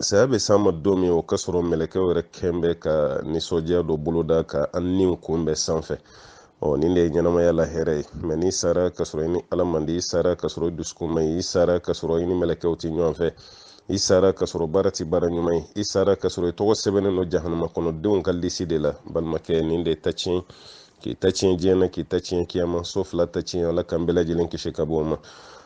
saya bɛ s'a ma don min o k'a sɔrɔ mɛlɛkɛw yɛrɛ kun bɛ ka nisɔndiya dɔ boloda ka a ni kunbɛn sanfɛ ɔ nin de ye ɲɛnamaya la hɛrɛ ye mɛ n'i sara ka sɔrɔ i ni ala man di i sara ka sɔrɔ i dusukun man ɲi i sara ka sɔrɔ i ni mɛlɛkɛw tɛ ɲɔgɔn fɛ i sara ka sɔrɔ baara tɛ baara ɲuman ye i sara ka sɔrɔ i tɔgɔ sɛbɛnnen don jahanama kɔnɔ denw ka lisi de la balimakɛ nin de ta tiɲɛ k'i ta tiɲɛ diɲɛ na k'i ta tiɲɛ kiyama so fila ta tiɲɛ ala k'an bɛɛ lajɛlen kisi ka bɔ o ma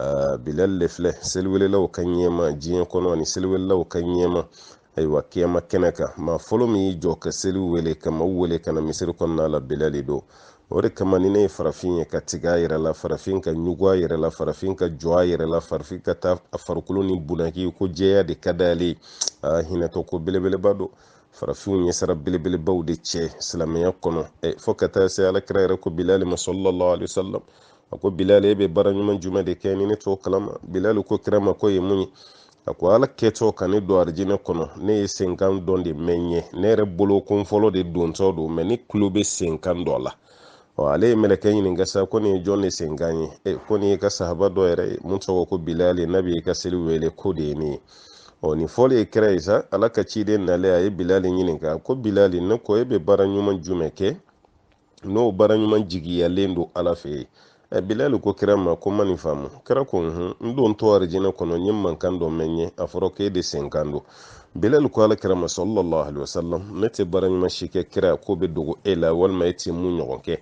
aa bilal le filɛ seliwelelaw ka ɲɛmaa diɲɛ kɔnɔ ani seliwelelaw ka ɲɛmaa ayiwa kiyama kɛnɛ kan maa fɔlɔ min y'i jɔ ka seli wele ka maaw wele ka na misiri kɔnɔna la bilal de don o de kama ni ne ye farafin ye ka tigɛ a yɛrɛ la farafin ka ɲugun a yɛrɛ la farafin ka jɔn a yɛrɛ la farafin ka taa a farikolo nin bunaki ko jɛya de ka d'ale ye aa hinɛtɔ ko belebeleba don farafinw ye sara belebelebaw de cɛ silamɛya kɔnɔ fo ka taa se ala kira yɛrɛ ko bilali ma sallallahu alaihi wasallam a ko bilal e bɛ baara ɲuman jumɛn de kɛ ni ne t'o kalama bilal ko kira ma k'o ye mun ye a ko ala kɛtɔ ka ne don arijinɛ kɔnɔ ne ye senkan dɔ de mɛn n ɲɛ ne yɛrɛ bolo ko n fɔlɔ de dontɔ don mɛ ne tulo bɛ senkan dɔ la ɔ ale ye mɛlɛkɛ ɲininka sa ko nin ye jɔn de senkan ye e ko nin y'i ka sahaba dɔ yɛrɛ ye min tɔgɔ ko bilal ye n'a b'i ka seli wele k'o de ye nin ye ɔ nin fɔlen kira ye sa ala ka ciden nalen a ye bilal ɲininka ko bilal ne ko e bɛ baara ɲuman jumɛn kɛ n'o baara ɲuman jigiyalen don ala fɛ yen ɛ bilali ko kira ma ko n ma nin faamu kira ko hun n dontɔ arijinɛ kɔnɔ n ye mankan dɔ mɛn yen a fɔra k'e de senkan don bilali ko ala kira ma sallallahu alaihi wasallam ne tɛ baara ɲuman si kɛ kira k'o bɛ dogo e la walima e tɛ min ɲɔgɔn kɛ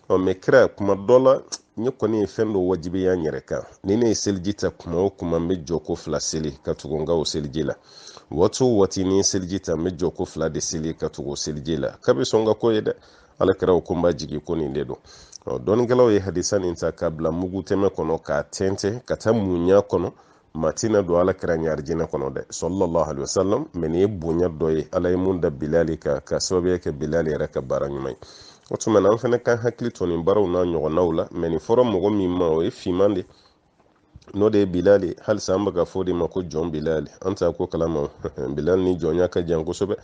ɔ mɛ kira kuma dɔ la ne kɔni ye fɛn dɔ wajibiya n yɛrɛ kan ni ne ye seliji ta kuma o kuma n bɛ jɔko fila seli ka tugu n ka o seliji la waati o waati ni n ye seliji ta n bɛ jɔko fila de seli ka tugu o seliji la k'a bɛ sɔn ka k'o ye dɛ ala kira ko n b'a jigi ko nin de don dɔnikɛlaw ye hadisa nin ta k'a bila mugutɛmɛ kɔnɔ k'a tɛntɛn ka taa min y'a kɔnɔ maa tɛna don ala kira ɲɛ arijinɛ kɔnɔ dɛ sallallahu alaihi wasallam mɛ nin ye bonya dɔ ye ala ye min da bilali kan k'a sababuya kɛ bilali yɛrɛ ka baara ɲuman ye o tuma na an fana k'an hakili to nin baaraw n'a ɲɔgɔnnaw la mɛ nin fɔra mɔgɔ min ma o ye finman de n'o de ye bilal ye halisa an bɛ k'a fɔ o de ma ko jɔn bilal an t'a ko kalama bilal ni jɔnya ka jan kosɛbɛ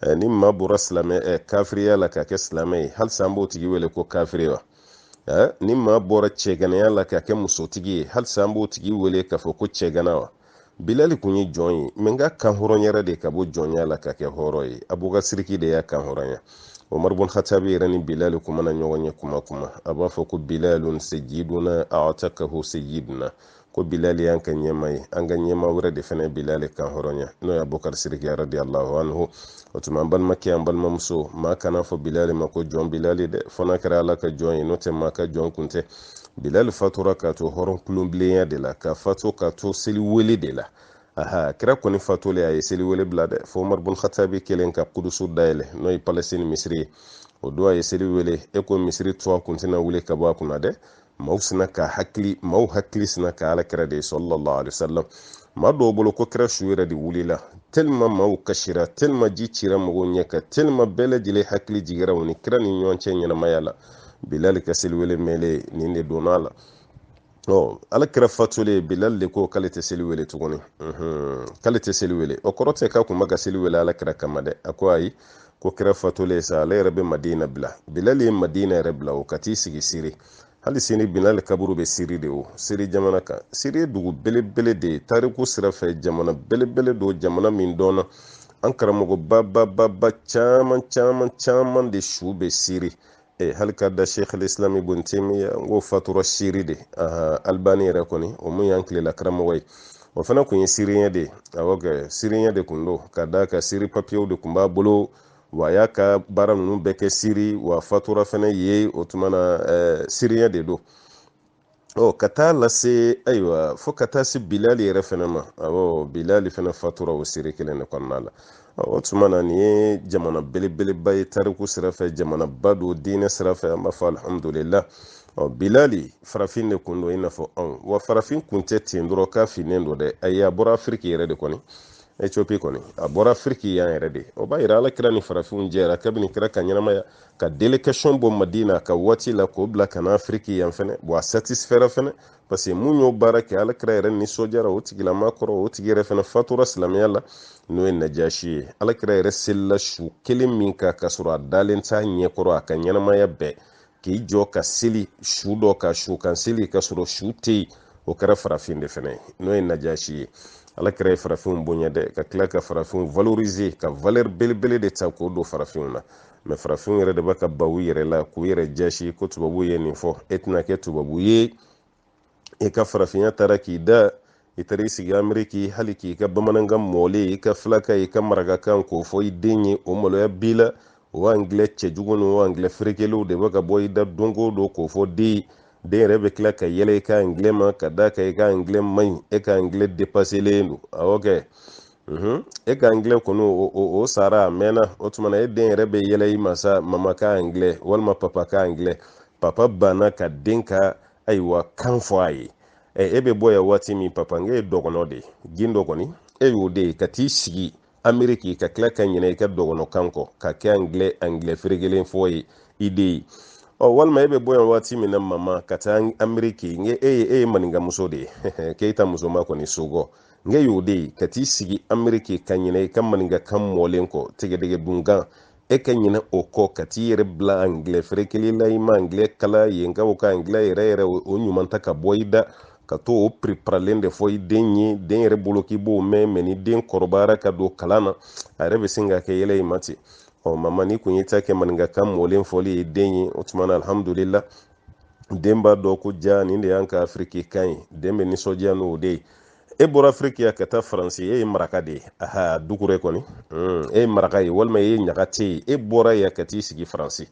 eh, ni maa bɔra silamɛ eh, kafiriya la ka kɛ silamɛ ye halisa an b'o tigi wele ko kafiri wa eh, ni maa bɔra cɛganaya la ka kɛ musotigi ye halisa an b'o tigi wele k'a fɔ ko cɛgana wa bilali kun ye jɔn ye mɛ nka a kan hɔrɔnyara de ka bɔ jɔnya la ka kɛ hɔrɔn ye abubakar siriki de y'a kan hɔrɔnya umaru bun hatabi yɛrɛ ni bilali kun mana ɲɔgɔn ye kuma o kuma a b'a fɔ ko bilalun sayiduna atakahu sayiduna ko bilali y'an ka ɲɛmaa ye an ka ɲɛmaa wɛrɛ de fana bilali kan hɔrɔnya n'o ye abubakar siriki radiyallahu anhu o tuma an balimakɛ an balimamuso maa kana fɔ bilali ma ko jɔn bilali dɛ fo n'a kɛra ala ka jɔn ye n'o tɛ maa ka jɔn kun tɛ bilali fatura k'a to hɔrɔn kulonbilenya de la ka fatu k'a to seli wele de la aha kira kɔni fatulen a ye seli wele bila dɛ fo umar bun khatabi kɛlen ka kudusu dayɛlɛ n'o ye palestine misiri ye o don a ye seli wele e ko misiri tuwa kun tɛna wuli ka bɔ a kunna dɛ maaw sina ka hakili maaw hakili sina ka ala kira de ye sallallahu alaihi wasallam maa dɔw bolo ko kira su yɛrɛ de wulila tellement maaw kasira tellement ji cira mɔgɔw ɲɛ ka tellement bɛɛ lajɛlen hakili jigira u ni kira ni ɲɔgɔn cɛ ɲɛnamaya la bilali ka seliwele mɛlen nin de donna a la ɔ ala kira fatulen bilali de ko k'ale tɛ seli wele tuguni k'ale tɛ seli wele o kɔrɔ tɛ k'a kun bɛ ka seli wele ala kira kama dɛ a ko ayi ko kira fatulen sa ale yɛrɛ bɛ madina bila bilali ye madina yɛrɛ bila o ka t'i sigi siri hali sini bilali kaburu bɛ siri de o siri jamana kan siri ye dugu belebele de ye tariku sira fɛ jamana belebele don jamana min dɔnna an karamɔgɔ babababa caman caman caman de su bɛ siri e hali ka da sheikh alislam ibn taymiya n k'o fatura siri de aha albani yɛrɛ kɔni o mun y'an tilela karamɔgɔ ye o fana kun ye siriɲɛ de ye awɔ kɛ siriɲɛ de kun don ka da ka siri papiyew de kun b'a bolo wa a y'a ka baara ninnu bɛɛ kɛ siri w'a fatura fana yen o tuma na siriɲɛ de don ɔ ka taa lase ayiwa fo ka taa se bilali yɛrɛ fana ma awɔ bilali fana fatura o siri kelen de kɔnɔna la o tuma na nin ye jamana belebeleba ye tariku sira fɛ jamanaba don diinɛ sira fɛ an b'a fɔ alihamudulila ɔ bilali farafin de kun don i n'a fɔ anw wa farafin kun tɛ ten dɔrɔn k'a finnen don dɛ ayi a bɔra afiriki yɛrɛ de kɔni ethiopie kɔni a bɔra afiriki yan yɛrɛ de o b'a yira ala kira ni farafinw jɛra kabini kira ka ɲɛnamaya ka délégation bɔ madina ka waati la k'o bila ka na afiriki yan fɛnɛ bon a satisifɛra fɛnɛ parce que mun y'o baara kɛ ala kira yɛrɛ nisɔndiyara o tigilama kɔrɔ o tigi yɛrɛ fɛnɛ fatura silamɛya la n'o ye najasi ye ala kira yɛrɛ selila su kelen min kan k'a sɔrɔ a dalen t'a ɲɛkɔrɔ a ka ɲɛnamaya bɛɛ k'i jɔ ka seli su dɔ ka su kan seli ka sɔrɔ su tɛ yen o kɛra farafin de fɛnɛ ye n'o ye najasi ye ala kira ye farafinw bonya dɛ ka tila ka farafinw valoriser ka valeur belebele de ta k'o don farafinw na mais farafinw yɛrɛ de bɛ ka ban u yɛrɛ la k'u yɛrɛ jasi ko tubabu ye nin fɔ e tɛna kɛ tubabu ye i ka farafinya taara k'i dan i taara i sigi ameriki hali k'i ka bamanankan mɔlen i ka filakan i ka marakakan k'o fɔ i den ye o maloya b'i la o angilɛ cɛjugu ni o angilɛ ferekelenw de bɛ ka bɔ i da don go don k'o fɔ den den yɛrɛ bɛ tila ka yɛlɛ i ka angilɛ ma ka da ka i ka angilɛ man ɲi e ka angilɛ depaselen don awɔ kɛ mhm. e ka anglɛ kɔni o sara a mɛnna o tuma na e den yɛrɛ bɛ yɛlɛ i ma sa mama ka anglɛ walima papa ka anglɛ papa banna ka den ka ayiwa kan fɔ a ye e bɛ bɔ yan waati min papa n'e ye dɔgɔnɔ de ye gindo kɔni e y'o de ye ka t'i sigi ameriki ka tila ka ɲinɛ i ka dɔgɔnɔkan kɔ ka kɛ anglɛ anglɛ ferekelen fɔ ye i den ye ɔ walima e bɛ bɔ yan waati min na mama ka taa ameriki n'e ye e ye maninkamuso de ye keyita muso ma kɔni sogɔ nka y'o de ye ka t'i sigi ameriki ka ɲinɛ i ka maninkakan mɔlen kɔ tigɛdɛgɛ dunkan e ka ɲinɛ o kɔ ka t'i yɛrɛ bila angilɛ ferekeli la i ma angilɛ kalan yen ka o ka angilɛ yɛrɛ yɛrɛ o ɲuman tɛ ka bɔ i da ka to o piriparalen de fɔ i den ye den yɛrɛ bolo k'i b'o mɛn mɛ ni den kɔrɔbayara ka don kalan na a yɛrɛ bɛ sin ka kɛ yɛlɛ i ma ten ɔ mama n'i kun y'i ta kɛ maninkakan mɔlen fɔli ye den ye o tuma na alhamdulila den b'a dɔn ko ja nin de y'an ka afiriki kan ye den bɛ nisɔndiya n'o de ye e bɔra afiriki yan ka taa faransi e ye maraka de ye aha dukure kɔni hmm, e ye maraka ye walima e ye ɲagate ye e bɔra yan ka t'i sigi faransi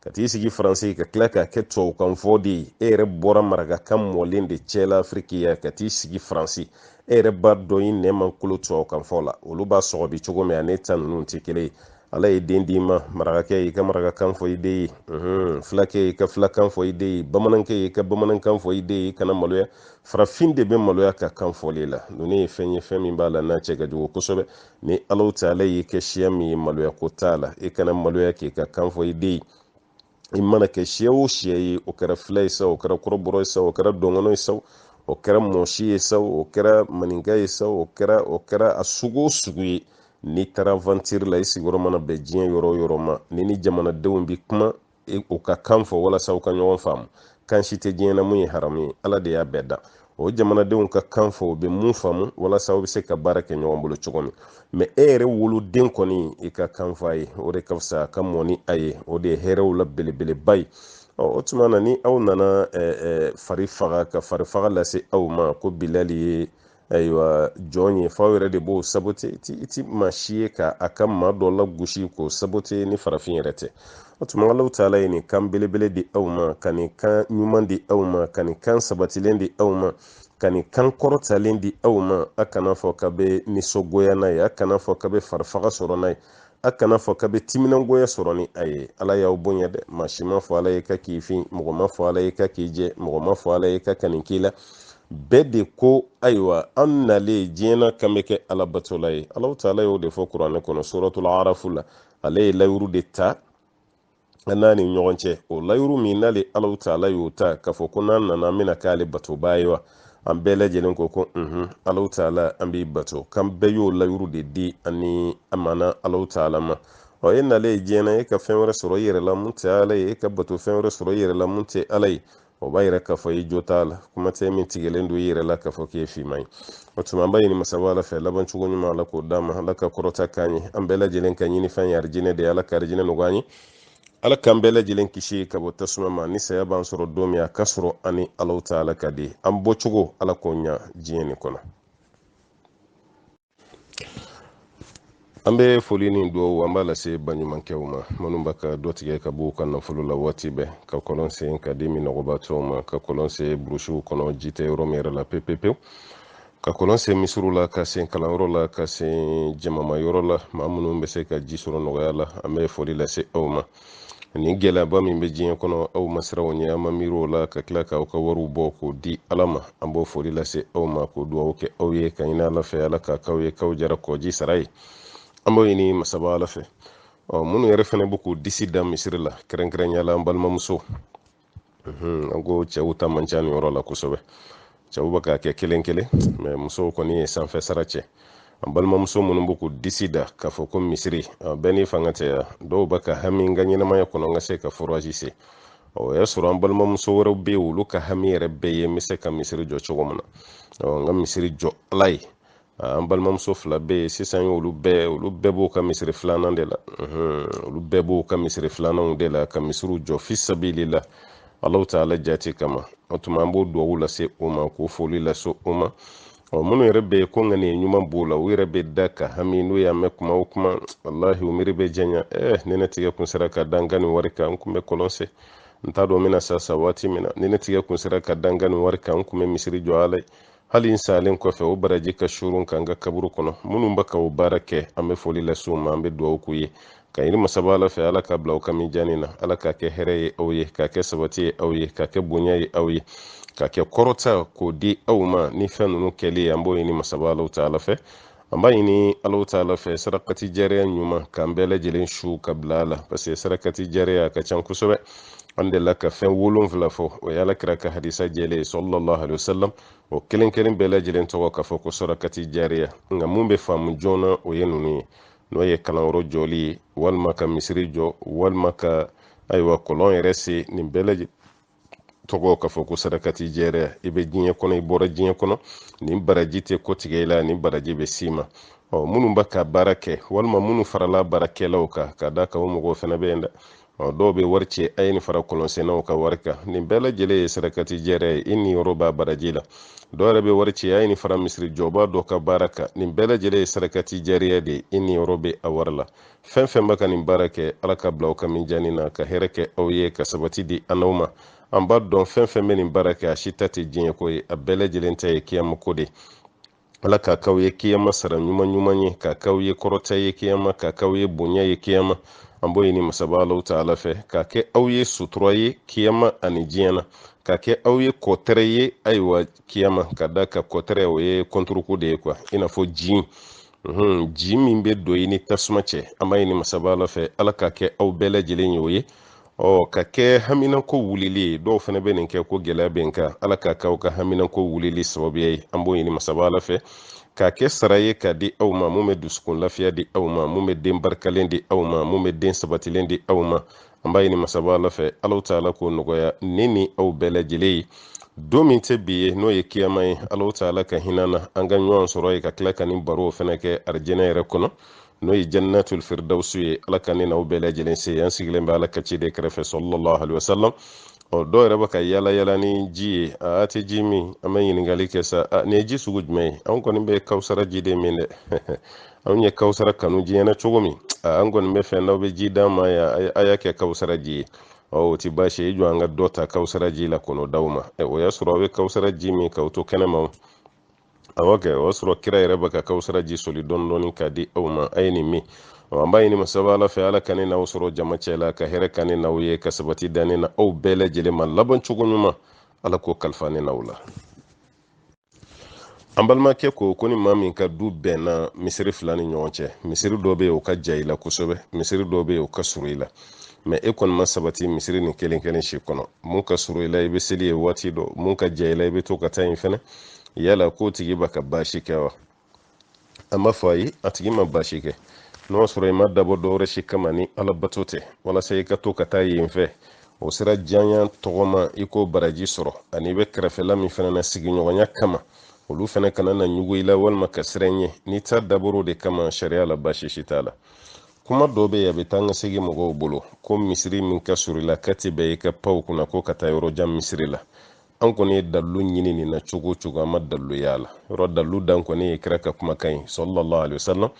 ka t'i sigi faransi ka tila k'a kɛ tubabukan fɔ de ye e yɛrɛ bɔra marakakan mɔlen de cɛ la afiriki yan ka t'i sigi faransi e yɛrɛ b'a dɔn i nɛn ma kolo tubabukan fɔ la olu b'a sɔgɔbɛ cogo min an'i ta ninnu tɛ kelen ye ala ye den d'i ma marakakɛ y'i ka marakakan fɔ i den ye fulakɛ y'i ka fulakan fɔ i den ye bamanankɛ y'i ka bamanankan fɔ i den ye i kana maloya farafin de bɛ maloya ka kan fɔli la ninnu ye fɛn ye fɛn min b'a la n'a cɛ ka jugu kosɛbɛ ni alahu taala y'i kɛ siya min ye maloya ko t'a la i kana maloya k'i ka kan fɔ i den ye i mana kɛ siya o siya ye o kɛra fila ye sa o kɛra kɔrɔbɔrɔ ye sa o kɛra dɔngɔnɔ ye sa o kɛra mɔsi ye sa o kɛra maninka ye sa o kɛra o kɛra a sugu o sugu ye n'i taara vantiri la i sigiyɔrɔ mana bɛn diɲɛ yɔrɔ o yɔrɔ ma ni ni jamanadenw bi kuma e, u ka kan fɔ walasa u ka ɲɔgɔn faamu kan si tɛ diɲɛ na min ye haramu ye ala de y'a bɛɛ dan o jamanadenw ka kan fɔ u bɛ min faamu walasa u bɛ se ka baara kɛ ɲɔgɔn bolo cogo min mɛ e yɛrɛ woloden kɔni i ka kan fɔ a ye o de ka fisa a ka mɔ ni a ye o de ye hɛrɛw la belebeleba ye o tuma na ni aw nana fari faga ka farifaga lase aw ma ko bilali ye ayiwa jɔn ye f'aw yɛrɛ de b'o sabote i ti maa si ye k'a ka maa dɔ lagosi k'o sabote ni farafin yɛrɛ tɛ o tuma alahu taala ye nin kan belebele di aw ma ka nin kan ɲuman di aw ma ka nin kan sabatilen di aw ma ka nin kan kɔrɔtalen di aw ma a kana fɔ k'a bɛ nisɔngoya n'a ye a kana fɔ k'a bɛ farifaga sɔrɔ n'a ye a kana fɔ k'a bɛ timinangoya sɔrɔ ni a ye ala y'aw bonya dɛ maa si ma fɔ ala ye k'a k'i fin mɔgɔ ma fɔ ala ye k'a k'i jɛ mɔgɔ ma fɔ ala ye k'a ka nin k'i la bɛɛ de ko ayiwa an nalen diɲɛ na k'an bɛ kɛ alabatola ye alahu taala y'o de fɔ kuranɛ kɔnɔ suratul arafu la ale ye layuru de ta an n'a ni ɲɔgɔn cɛ o layuru min n'ale alahu taala y'o ta k'a fɔ ko n'an nana an bɛna k'ale batobaa ye wa an bɛɛ lajɛlen ko ko unhun alahu taala an b'i bato k'an bɛɛ y'o layuru de di ani amana alahu taala ma ɔ e nalen ye diɲɛ na e ka fɛn wɛrɛ sɔrɔ i yɛrɛ la mun tɛ ala ye e ka bato fɛn wɛrɛ sɔrɔ i yɛrɛ la mun tɛ ala ye o b'a yira k'a fɔ i jo t'a la kuma tɛ min tigɛlen don i yɛrɛ la k'a fɔ k'i ye finman ye o tuma an b'a ɲini masaba ala fɛ laban cogo ɲuman ala k'o d'an ma ala ka kɔrɔta k'an ye an bɛɛ lajɛlen ka ɲinifɛn ye arijinɛ de ye ala ka arijinɛ nɔgɔya an ye ala k'an bɛɛ lajɛlen kisi ka bɔ tasuma ma ni saya b'an sɔrɔ don min a k'a sɔrɔ an ni alahu taala ka di an bɔcogo ala k'o ɲa diɲɛ nin kɔnɔ an bɛ foli ni dugawu an b'a lase baɲumankɛw ma minnu bɛ ka dɔ tigɛ ka b'u ka nafolo la waati bɛɛ ka kɔlɔn sen ka di minɔgɔbatɔw ma ka kɔlɔn sen burusiw kɔnɔ ji tɛ yɔrɔ min yɛrɛ la pepepewu ka kɔlɔn sen misiriw la k'a sen kalanyɔrɔ la k'a sen jamamayɔrɔ la maa minnu bɛ se ka ji sɔrɔ nɔgɔya la an bɛ foli lase aw ma ni gɛlɛyaba min bɛ diɲɛ kɔnɔ aw ma siran o ɲɛ aw ma miiri o la ka tila k'aw ka wariw bɔ k'o di ala ma an b'o foli lase aw ma k'o dugawu kɛ aw ye ka ɲini ala fɛ ala k'a k'aw ye k'aw jara kɔji sara ye an b'o ɲini masaba ala fɛ ɔ minnu yɛrɛ fana bɛ k'u disi da misiri la kɛrɛnkɛrɛnya la an balimamuso an ko cɛw ta man ca nin yɔrɔ la kosɛbɛ cɛw bɛ k'a kɛ kelen kelen mais musow kɔni ye sanfɛ sara cɛ an balimamuso minnu bɛ k'u disi da k'a fɔ ko misiri bɛɛ ni faantanya dɔw bɛ ka hami n ka ɲɛnamaya kɔnɔ n ka se ka forazi sen o y'a sɔrɔ an balimamuso wɛrɛw bɛ yen olu ka hami yɛrɛ bɛɛ ye n bɛ se ka misiri jɔ cogo min na n ka misiri jɔ ala ye an balimamuso fila bɛ yen sisan olu bɛɛ olu bɛɛ b'u ka misiri filanan de la olu bɛɛ b'u ka misiri filananw de la ka misiriw jɔ fi sabilila alahu taala jati kama o tuma an b'o duwawu lase u ma k'o foli lase u ma ɔ minnu yɛrɛ bɛ yen ko ŋaniya ɲuman b'u la u yɛrɛ bɛ da ka hami n'u y'a mɛn kuma o kuma walahi u miiri bɛ janya eh ni ne tigɛ kun sera ka da n ka nin wari kan n kun bɛ kɔlɔn sen n t'a dɔn n bɛna sa sa waati min na ni ne tigɛ kun sera ka da n ka nin wari kan n kun bɛ misiri jɔ ala ye hali n salen kɔfɛ o baraji ka suuru n kan n ka kaburu kɔnɔ minnu bɛ ka o baara kɛ an bɛ foli lase u ma an bɛ dugawu k'u ye ka ɲini masaba ala fɛ ala k'a bila aw ka mijaani na ala k'a kɛ hɛrɛ ye aw ye k'a kɛ sabati ye aw ye k'a kɛ bonya ye aw ye k'a kɛ kɔrɔta k'o di aw ma ni fɛn ninnu kɛli ye an b'o ɲini masaba alahu taala fɛ an b'a ɲini alahu taala fɛ sarakati jariya ɲuman k'an bɛɛ lajɛlen su ka bila a la parce que sarakati jariya a ka ca kosɛbɛ an delila ka fɛn wolonfila fɔ o ye ala kira ka hadisa jɛlen ye sallallahu alayhi wa sallam o kelen kelen bɛɛ lajɛlen tɔgɔ k'a fɔ ko sarakati jariya nka mun bɛ faamu joona o ye ninnu ye n'o ye kalanyɔrɔ jɔli ye walima ka misiri jɔ walima ka ayiwa kɔlɔn yɛrɛ sen nin bɛɛ lajɛlen tɔgɔ k'a fɔ ko sarakati jɛriya i bɛ diɲɛ kɔnɔ i bɔra diɲɛ kɔnɔ nin baraji tɛ kɔtigɛ i la nin baraji bɛ s'i ma ɔ minnu bɛ ka baara kɛ walima minnu farala baarakɛlaw kan ka da kan o mɔgɔw fana bɛ yen dɛ ɔ dɔw bɛ wari ci a ye nin fara kɔlɔnsennaw ka wari kan nin bɛɛ lajɛlen ye sarakati jɛriya ye i niyɔrɔ b'a baraji la dɔw yɛrɛ bɛ wari ci a ye nin fara misiri jɔba dɔ ka baara kan nin bɛɛ lajɛlen ye sarakati jɛriya de ye i niyɔrɔ bɛ a wari la fɛn fɛn bɛ ka nin baara kɛ ala k'a bila aw ka mijani na ka hɛrɛ kɛ aw ye ka sabati di an n'aw ma an b'a dɔn fɛn fɛn bɛ nin baara kɛ a si ta tɛ diɲɛ ko ye a bɛɛ lajɛlen ta ye kiyama ko de ala k'a k'aw ye kiyama sara ɲuman ɲuman ye k'a k'aw ye kɔrɔta ye kiyama k'a k'aw ye bonya ye kiyama an b'o ɲini masaba alahu taala fɛ k'a kɛ aw ye sutura ye kiyama ani diɲɛ na k'a kɛ aw ye kɔtɛrɛ ye ayiwa kiyama ka da ka kɔtɛrɛ o ye kɔnturuko de ye kuwa i n'a fɔ jin jin min bɛ don i ni tasuma cɛ an b'a ɲini masaba ala fɛ ala k'a kɛ aw bɛɛ lajɛlen ye o ye ɔ ka kɛ haminako wulili ye dɔw fana bɛ nin kɛ ko gɛlɛya bɛ n kan ala k'a kɛ aw ka haminako wulili sababuya ye an b'o ɲini masaba ala fɛ k'a kɛ sara ye k'a di aw ma mun bɛ dusukun lafiya di aw ma mun bɛ den barikalen di aw ma mun bɛ den sabatilen di aw ma an b'a ɲini masaba ala fɛ alahu taala k'o nɔgɔya ne ni aw bɛɛ lajɛlen ye don min tɛ bi ye n'o ye kiyama ye alahu taala ka hin'an na an ka ɲɔgɔn sɔrɔ yen ka tila ka nin baro fana kɛ arijinɛ yɛrɛ kɔnɔ n'o ye jannatul firdausu ye ala ka ne n'aw bɛɛ lajɛlen se yen an sigilen bɛ ala ka ciden kɛrɛfɛ sallallahu alaihi wasallam ɔ dɔw yɛrɛ bɛ ka yala yala ni ji ye a tɛ ji min an bɛ ɲininkali kɛ sa a nin ye ji sugu jumɛn ye an kɔni bɛ kawusara ji de min dɛ anw ye kawusara kanu diɲɛ na cogo min an kɔni b'a fɛ n'aw bɛ ji d'an ma yan a y'a kɛ kawusara ji ye ɔ o ti baasi ye i jɔ an ka dɔ ta kawusara ji la ka n'o d'aw ma o y'a sɔrɔ aw bɛ kawusara ji min k'aw to kɛnɛma awɔ kɛ o y'a sɔrɔ kira yɛrɛ bɛ ka kawusara ji soli dɔɔni dɔɔni k'a di aw ma a ye nin min an b'a ɲini masaba ala fɛ ala ka ne n'aw sɔrɔ jama cɛ la ka hɛrɛ kɛ ne n'aw ye ka sabati di ne n'aw bɛɛ lajɛlen ma laban cogo ɲuman ala k'o kalifa ne n'aw la an balimakɛ ko ko ni maa min ka du bɛnna misiri fila ni ɲɔgɔn cɛ misiri dɔ bɛ yen o ka jan i la kosɛbɛ misiri dɔ bɛ yen o ka surun i la mɛ e kɔni ma sabati misiri nin kelen kelen si kɔnɔ mun ka surun i la i bɛ seli yen waati dɔ mun ka jan i la i bɛ to ka taa yen fɛnɛ yala k'o tigi bɛ ka baasi kɛ wa an b'a fɔ ayi a tigi ma baasi kɛ n'o y'a sɔrɔ i m'a dabɔ dɔwɛrɛ si kama ni ala bato tɛ walasa i ka to ka taa yen fɛ o sira janya tɔgɔma i k'o baraji sɔrɔ ani i bɛ kɛrɛfɛla min fana na sigiɲɔgɔnya kama olu fana kana na ɲugu i la walima ka siran ɲɛ n'i ta dabɔr'o de kama sariya la baasi si t'a la kuma dɔ bɛ yen a bɛ taa n ka segin mɔgɔw bolo ko misiri min ka surun i la k'a ti bɛn i ka pan o kunna ko ka taa yɔrɔ jan misiri la an kɔni ye dalilu ɲini nin na cogo o cogo an ma dalilu y'a la yɔrɔ dalilu dan kɔni ye kira ka kumakan ye sallallahu alayhi wa sallam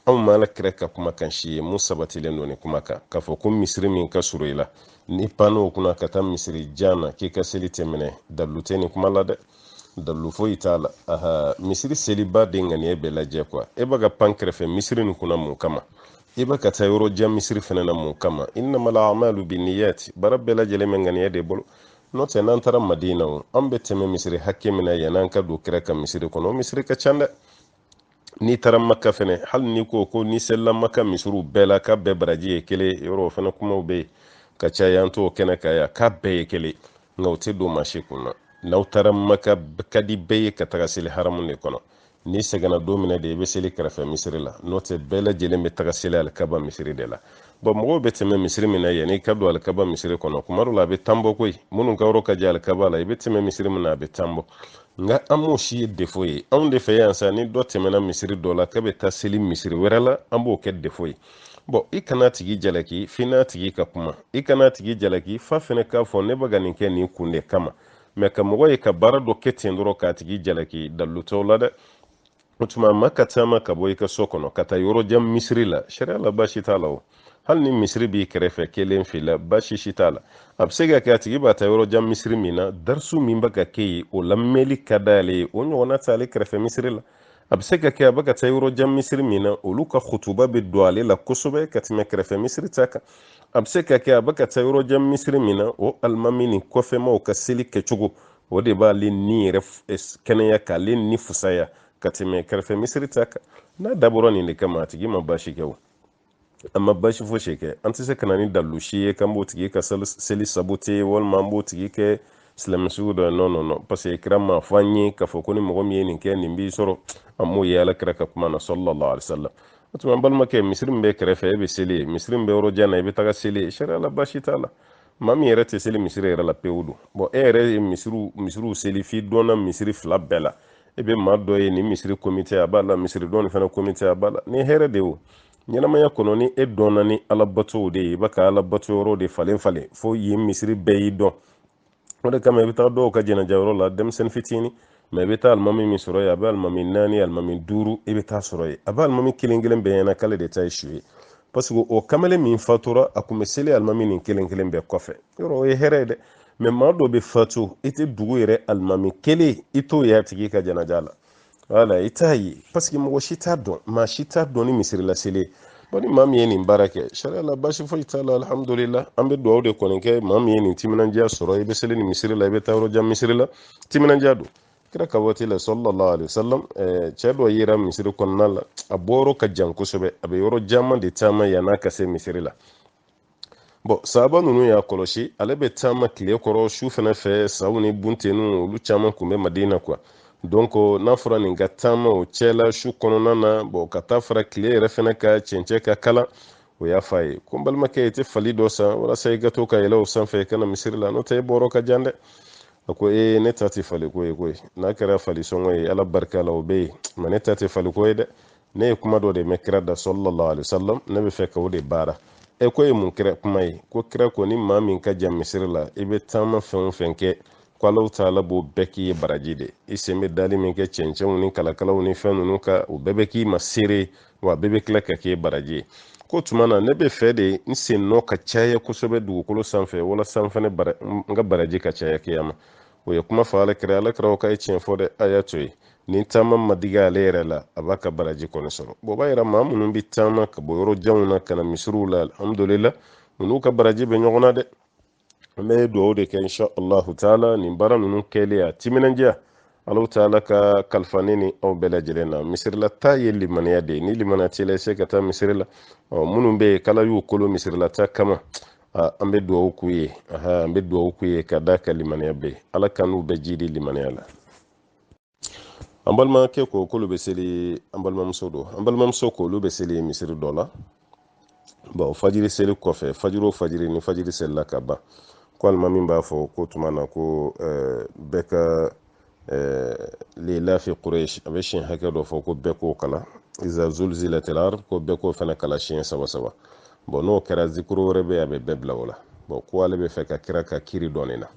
anw ma ala kira ka kumakan si ye min sabatilen don ni kumakan k'a fɔ ko misiri min ka surun i la n'i panna o kunna ka taa misiri jan na k'i ka seli tɛ minɛ dalilu tɛ nin kuma la dɛ dalu foyi t'a la aha misiri selibaa de ŋaniya bɛ lajɛ kuwa e bɛ ka pan kɛrɛfɛ misiri nin kunna mun kama i bɛ ka taa yɔrɔ jan misiri fɛnɛ na mun kama innamal amalu binniyat baara bɛɛ lajɛlen bɛ ŋaniya de bolo n'o tɛ n'an taara madina o an bɛ tɛmɛ misiri hakɛ min na yann'an ka don kira ka misiri kɔnɔ o misiri ka ca dɛ n'i taara maka fɛnɛ hali n'i ko ko n'i selila maka misiriw bɛɛ la k'a bɛɛ baraji ye kelen yɔrɔ o fɛnɛ kumaw bɛ yen ka caya an t'o kɛnɛ kan yan k'a bɛɛ ye kelen nka o tɛ don maa si kun na n'aw taara maka ka di bɛɛ ye ka taga seli haramu de kɔnɔ n'i sɛgɛnna don min na de i bɛ seli kɛrɛfɛ misiri la n'o tɛ bɛɛ lajɛlen bɛ taga seli alikaba misiri de la bɔn mɔgɔw bɛ tɛmɛ misiri min na yanni i ka don alikaba misiri kɔnɔ kuma dɔ la a bɛ tan bɔ koyi minnu ka yɔrɔ ka jan alikaba la i bɛ tɛmɛ misiri min na a bɛ tan bɔ nka an m'o si ye defo ye anw de fɛ yan sa ni dɔ tɛmɛna misiri dɔ la k'a bɛ taa seli misiri wɛrɛ la an b'o kɛ defo ye bɔn i kan'a tigi jalaki f'i n'a tigi ka kuma i kan'a tigi jalaki f'a fɛnɛ k'a fɔ ne bɛ ka nin kɛ nin kun de kama mɛ ka mɔgɔ ye ka baara dɔ kɛ ten dɔrɔn k'a tigi jalaki dalilu t'o la dɛ o tuma maa ka taama ka bɔ i ka so kɔnɔ ka taa yɔrɔ jan misiri la sariya la baasi t'a la o hali ni misiri b'i kɛrɛfɛ kelen f'i la baasi si t'a la a bɛ se ka kɛ a tigi bɛ taa yɔrɔ jan misiri min na darisu min bɛ ka kɛ yen o lamɛnli ka d'ale ye o ɲɔgɔnna t'ale kɛrɛfɛ misiri la a bɛ se ka kɛ a bɛ ka taa yɔrɔ jan misiri min na olu ka kutuba bɛ don ale la kosɛbɛ ka tɛmɛ kɛrɛfɛ misiri ta kan a bɛ se ka kɛ a bɛ ka taa yɔrɔ jan misiri min na o alimami ni kɔfɛmaw ka seli kɛcogo o de b'ale ni yɛrɛ eh, kɛnɛya k'ale ni fusaya ka tɛmɛ kɛrɛfɛ misiri ta kan n'a dabɔra nin de kama a tigi ma baasi kɛ o a ma baasi fosi kɛ an tɛ se ka na ni dalu si ye k'an b'o tigi ka seli sabote walima an b'o tigi kɛ silamɛ sugu dɔ ye non non non parce que kira m'a fɔ an ye k'a fɔ ko ni mɔgɔ min ye nin kɛ nin b'i sɔrɔ an m'o ye ala kira ka kuma na sallallahu alaihi wasallam o tuma an balimakɛ misiri min bɛ kɛrɛfɛ e bɛ seli yen misiri min bɛ yɔrɔ jan na i bɛ taga seli yen sariya la baasi t'a la maa min yɛrɛ tɛ seli misiri yɛrɛ la pewu don bɔn e yɛrɛ ye misiriw misiriw seli f'i dɔnna misiri fila bɛɛ la e bɛ maa dɔ ye nin misiri komite a b'a la misiri dɔ nin fana komite a b'a la ni hɛrɛ de o ɲɛnamaya kɔnɔ ni e dɔnna ni ala batow de ye i bɛ ka ala bato yɔrɔ de falen falen fo yen misiri bɛɛ y'i dɔn o de kama i bɛ taa dɔw ka jɛnɛja yɔrɔ la denmisɛnnin fitinin mɛ i bɛ taa alimami min sɔrɔ yen a bɛ alimami naani alimami duuru i bɛ taa sɔrɔ yen a bɛ alimami kelen kelen bɛɛ ɲɛ na k'ale de ta ye su ye parce que o kamalen min fatura a tun bɛ seli alimami nin kelen kelen bɛɛ kɔfɛ yɔrɔ o ye hɛrɛ ye dɛ mɛ maa dɔ bɛ fatu i tɛ dugu yɛrɛ alimami kelen i t'o y'a tigi ka janaja la wala i t'a ye paseke mɔgɔ si t'a dɔn maa si t'a dɔn ni misiri la seli bɔn ni maa min ye nin baara kɛ sariya la basi foyi t'a la alihamudulila an bɛ dugawu de kɔni kɛ maa min ye nin timinandiya sɔrɔ i bɛ seli ni misiri la i bɛ taa yɔrɔ jan misiri la timinandiya don kira ka waati la sallallahu alaihi wasallam eh, cɛ dɔ yera misiri kɔnɔna la a bɔyɔrɔ ka jan kosɛbɛ a bɛ yɔrɔ caman de taama yann'a ka se misiri la bɔn sahaba ninnu y'a kɔlɔsi ale bɛ taama tile kɔrɔ su fɛnɛ fɛ saw ni buntennu olu caman kun bɛ madina quoi donc n'a fɔra nin ka taama o cɛla su kɔnɔna na bɔn ka taa fara tile yɛrɛ fɛnɛ kan cɛncɛn ka kalan o y'a fɔ a ye ko n balimakɛ i tɛ fali dɔ san walasa i ka to ka yɛlɛ o sanfɛ i ka na misiri la n'o tɛ i bɔyɔrɔ ka jan dɛ a ko ee ne ta tɛ faliko ye koyi n'a kɛra falisɔngɔ ye ala barika la o bɛ yen mɛ ne ta tɛ faliko ye dɛ ne ye kuma dɔ de mɛn kira da sallallahu alaihi wasallam ne bɛ fɛ ka o de baara e k'o ye mun kira kuma ye ko kira ko ni maa min ka jan misiri la i bɛ taama fɛn o fɛn kɛ ko alahu taala b'o bɛɛ k'i ye baraji de i sen bɛ dali min kɛ cɛncɛnw ni kalakalaw ni fɛn ninnu kan o bɛɛ bɛ k'i ma seere ye wa a bɛɛ bɛ tila ka k'i baraji ye k'o tuma na ne bɛ fɛ de n sennɔ ka caya kosɛbɛ dugukolo sanfɛ walasa n fana n ka baraji ka caya kiyama o ye kuma fɔ alakira alakira ko k'a ye tiɲɛ fɔ dɛ a y'a to yen ni taama ma digi ale yɛrɛ la a b'a ka baraji kɔni sɔrɔ bɔn o b'a yira maa minnu bɛ taama ka bɔ yɔrɔ janw na ka na misiriw la alihamudulila u n'u ka baraji bɛ ɲɔgɔn na dɛ an bɛ dugawu de kɛ insha allahu taala nin baara ninnu kɛli n'a timinandiya alahu taala k'a kalifa ne ni aw bɛɛ lajɛlen na misirilataa ye limaniya de ye ni limaniya t'i la i se ka taa misiri la minnu bɛ yen k'ala y'u kolo misirilataa kama an bɛ dugawu k'u ye an bɛ dugawu k'u ye ka d'a kan limaniya bɛ ala k'an n'u bɛɛ jiidi limaniya la an balimakɛ ko k'olu bɛ seli an balimamuso don an balimamuso ko olu bɛ seli misiri dɔ la bɔn fajiri seli kɔfɛ fajiri o fajiri ni fajiri selila ka ban ko alimami b'a fɔ ko tuma na ko bɛɛ ka lilafi quraish a bɛ siɲɛ hakɛ dɔ fɔ ko bɛɛ k'o kalan iza zulzilatil ard ko bɛɛ k'o fana kalan siɲɛ saba saba bɔn n'o kɛra zikuru wɛrɛ bɛ yen a bɛ bɛɛ bila o la bɔn ko ale bɛ fɛ ka kira ka kiri dɔn nin na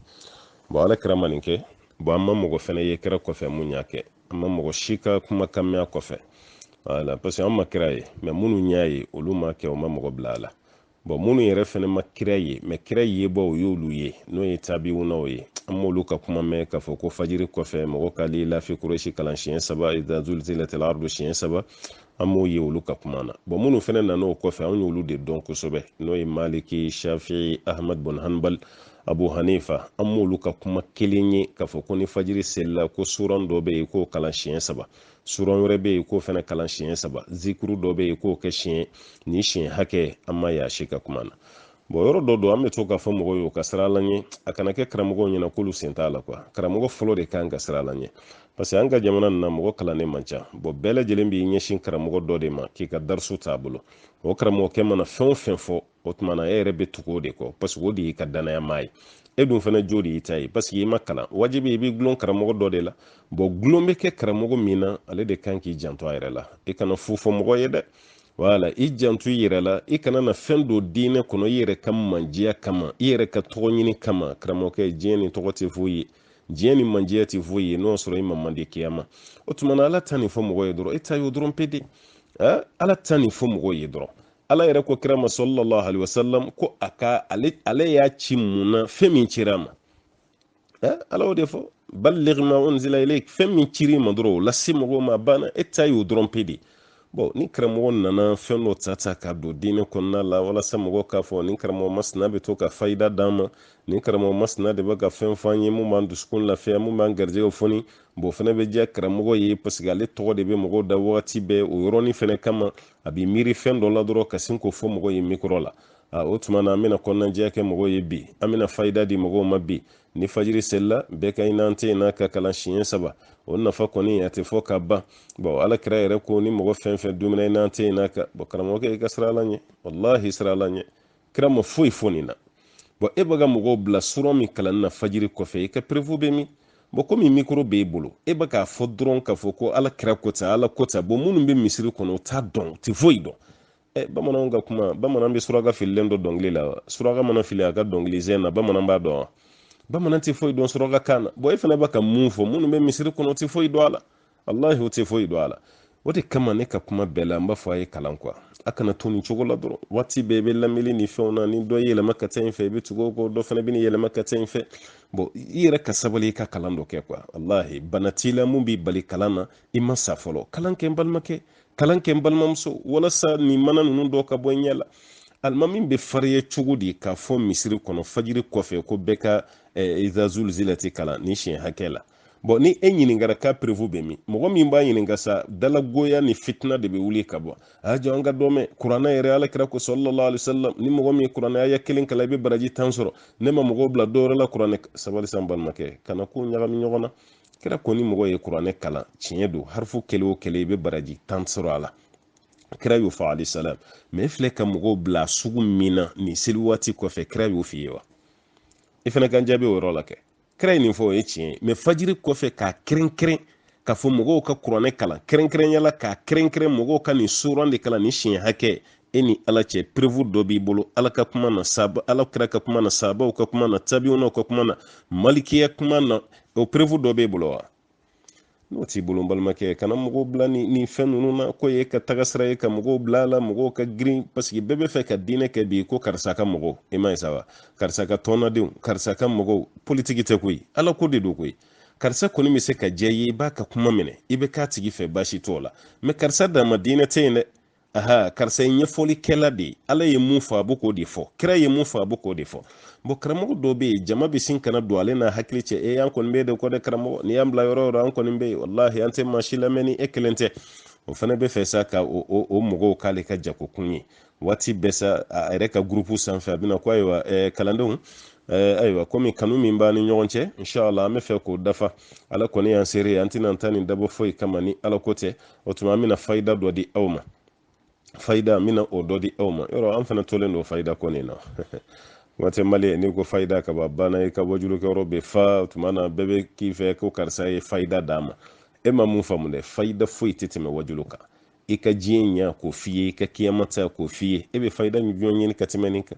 bɔn ala kira ma nin kɛ bɔn an ma mɔgɔ fana ye kira kɔfɛ min y'a kɛ an ma mɔgɔ si ka kumakan mɛn a kɔfɛ voilà parce que an ma kira ye mɛ minnu y'a ye olu m'a kɛ u ma mɔgɔ bila a la bɔn minnu yɛrɛ fɛnɛ ma kira ye mɛ kira yebaaw u y'olu ye n'o ye tabiwunaw ye an m'olu ka kuma mɛn k'a fɔ ko fajiri kɔfɛ mɔgɔ ka lilafi quraishi kalan siɲɛ saba iza zulzilatil ardu siɲɛ saba an m'o ye olu ka kuma na bɔn minnu fɛnɛ nan'o kɔfɛ an y'olu de dɔn kosɛbɛ n'o ye maliki shafi'i ahmad bun hanbal abu hanifa an m'olu ka kuma kelen ye k'a fɔ ko ni fajiri selila ko suran dɔ bɛ yen k'o kalan siɲɛ saba suran wɛrɛ bɛ yen k'o fana kalan siɲɛ saba zikuru dɔ bɛ yen k'o kɛ siɲɛ ni siɲɛ hakɛ an ma y'a si ka kuma na bon yɔrɔ dɔ don an bɛ to k'a fɔ mɔgɔw ye u ka siran ala ɲɛ a kana kɛ karamɔgɔw ɲɛna k'olu sen t'a la quoi karamɔgɔ fɔlɔ de kan ka siran ala ɲɛ parce que an ka jamana nin na mɔgɔ kalannen man ca bon bɛɛ lajɛlen b'i ɲɛsin karamɔgɔ dɔ de ma k'i ka darisu t'a bolo o karamɔgɔkɛ mana fɛn o fɛn fɔ o tuma na e yɛrɛ bɛ tugu o de kɔ parce que o de y'i ka danaya maa ye e dun fana jo de y'i ta ye parce que i ma kalan wajibi i b'i gulon karamɔgɔ dɔ de la bon gulon bɛ kɛ karamɔgɔ min na ale de kan k'i janto a yɛrɛ la i kana fu fɔ mɔgɔ ye dɛ wala i janto i yɛrɛ la i kana na fɛn don diinɛ kɔnɔ i yɛrɛ ka manjiya kama i yɛrɛ ka tɔgɔ ɲini kama karamɔgɔkɛ diɲɛ nin tɔgɔ tɛ foyi ye diɲɛ nin manjiya tɛ foyi ye n'o sɔrɔ i ma mandi kiyama o tuma na ala ta nin fɔ mɔgɔ ye dɔrɔn i ta y'o dɔrɔn pe de ala ta nin fɔ mɔgɔ ye dɔrɔn ala yɛrɛ ko kira ma sallallahu alaihi wasallam ko a ka ale ale y'a ci mun na fɛn min cira a ma eh, ala y'o de fɔ balligh ma unzila ilayk fɛn min cir'i ma dɔrɔn o lase mɔgɔw ma banna e ta y'o dɔrɔn pe de bon ni karamɔgɔ nana fɛn dɔ ta ta ka don diinɛ kɔnɔna la walasa mɔgɔ k'a fɔ ni karamɔgɔ masina bɛ to ka fayida d'an ma ni karamɔgɔ masina de bɛ ka fɛn fɔ an ye mun b'an dusukun lafiya mun b'an garijɛgɛ foni bon fana bɛ diya karamɔgɔ ye parce que ale tɔgɔ de bɛ mɔgɔw da wagati bɛɛ o yɔrɔnin fana kama a bɛ miiri fɛn dɔ la dɔrɔn ka sin k'o fɔ mɔgɔ ye mikɔrɔ la a o tuma na an bɛna kɔnɔnajɛya kɛ mɔgɔw ye bi an bɛna fayida di mɔgɔw ma bi ni fajiri selila bɛɛ ka inna a'taynaka kalan siɲɛ saba o nafa kɔni a tɛ fɔ ka ban bon ala kira yɛrɛ ko ni mɔgɔ fɛn fɛn dumina inna a'taynaka bon karamɔgɔkɛ i ka siran ala ɲɛ walahi siran ala ɲɛ kira ma foyi fɔ nin na bon e bɛ ka mɔgɔw bila suran min kalanni na fajiri kɔfɛ i ka preuve bɛ min bon komi mikoro b'e bolo e bɛ k'a fɔ dɔrɔn k'a fɔ ko ala kira ko ten ala ko ten bon minnu bɛ misiri kɔnɔ o t'a dɔn u tɛ foyi dɔn ɛ bamananw ka kuma bamanan bɛ suraka fililen dɔn dɔnkili la wa suraka mana fili a ka dɔnkili sen na bamanan b'a dɔn wa bamanan tɛ foyi dɔn suraka kan na bon e fana bɛ ka mun fɔ minnu bɛ misiri kɔnɔ o tɛ foyi dɔn a la walahi o tɛ foyi dɔn a la o de kama ne ka kuma bɛɛ la n b'a fɔ a ye kalan quoi a kana to nin cogo la dɔrɔn waati bɛɛ i bɛ lamɛnni ni fɛnw na ni dɔ y'i yɛlɛma ka taa in fɛ i bɛ tugu o kɔ dɔ fana bɛ n'i yɛlɛma ka taa in fɛ bon i yɛrɛ ka sabali i ka kalan dɔ kɛ quoi walahi bana t'i la mun b'i bali kalan na i ma sa fɔlɔ kalan kɛ n balimakɛ kalan kɛ n balimamuso walasa nin mana ninnu dɔ ka bɔ i ɲɛ la alimami bɛ farinya cogo di k'a fɔ misiri kɔnɔ fajiri kɔfɛ ko bɛɛ ka eh, iza zulzilati kalan ni siɲɛ hakɛ la bon ni e ɲininkara k'a preuve bɛ min mɔgɔ min b'a ɲininka sa dalagoya ni fitina de bɛ wuli ka bɔ a jɔ an ka dɔ mɛn kuranɛ yɛrɛ ala kira ko sallallahu alaihi wasallam ni mɔgɔ min ye kuranɛ aya kelen kalan i bɛ baraji tan sɔrɔ ne ma mɔgɔw bila dɔwɛrɛ la kuranɛ sabali sa n balimakɛ kana ko ɲagami ɲɔgɔn na kira ko ni mɔgɔ ye kuranɛ kalan tiɲɛ don harifu kelen o kelen i bɛ baraji tan sɔrɔ a la kira y'o fɔ alayhi salam mais e filɛ ka mɔgɔw bila sugu min na nin seli waati kɔfɛ kira y'o f'i ye wa i fana k'an jaabi o yɔrɔ la kɛ kira ye nin fɔ o ye tiɲɛ ye mɛ fajiri kɔfɛ k'a kɛrɛnkɛrɛn k'a fɔ mɔgɔw ka kuranɛ kalan kɛrɛnkɛrɛnya la k'a kɛrɛnkɛrɛn mɔgɔw ka nin suran de kalan ni siɲɛ hakɛ e ni ala cɛ perevu dɔ b'i bolo ala ka kuma na ala kira ka kuma na sahabaw ka kuma na tabiwunaw ka kuma na malikiya kuma na o perevu dɔ b'e bolo wa n'o t'i bolo n balimakɛ kana mɔgɔw bila nin fɛn ninnu na ko ye ka taga sira ye ka mɔgɔw bila a la mɔgɔw ka girin paseke bɛɛ bɛ fɛ ka diinɛ kɛ bi ko karisa ka mɔgɔw i ma ye sa wa karisa ka tɔnnadenw karisa ka mɔgɔw politiki tɛ koyi ala ko de don koyi karisa kɔni bɛ se ka diya i ye i b'a ka kuma minɛ i bɛ k'a tigi fɛ baasi t'o la mɛ karisa dama diinɛ tɛ yen dɛ aha karisa ye ɲɛfɔlikɛla de ye ala ye mun fɔ a bɛ k'o de fɔ kira ye mun fɔ a bɛ k'o de fɔ bɔn karamɔgɔ dɔw bɛ yen jama bɛ sin ka na don ale n'a hakili cɛ e an kɔni b'e de kɔ dɛ karamɔgɔ n'i y'an bila yɔrɔ o yɔrɔ an kɔni bɛ yen walahi an tɛ maa si lamɛn ni e kelen tɛ o fana bɛ fɛ sa ka o, o, o mɔgɔw k'ale ka jagokun ye waati bɛɛ sa a yɛrɛ ka gurupu sanfɛ a bɛna ko ayiwa eh, kalandenw eh, ayiwa komi kanu min b'an ni ɲɔgɔn cɛ inshallah an bɛ fɛ k'o dafa ala kɔni y'an seere ye an tɛna an ta nin dabɔ foyi kama ni ala ko tɛ o tuma an bɛna fayida dɔ di aw ma fayida an bɛna o dɔ di aw ma yɔrɔ an fana tolen don fayida ko nin na kuma tɛ mali n'i ko fayida ka ban banna i ka wajulukɛyɔrɔ bɛ fa o tuma na bɛɛ bɛ k'i fɛ ko karisa ye fayida d'a ma e ma mun faamu dɛ fayida foyi tɛ tɛmɛ wajulu kan i ka diɲɛ ɲɛ k'o f'i ye i ka kiyama ta k'o f'i ye e bɛ fayida jumɛn ɲini ka tɛmɛ nin kan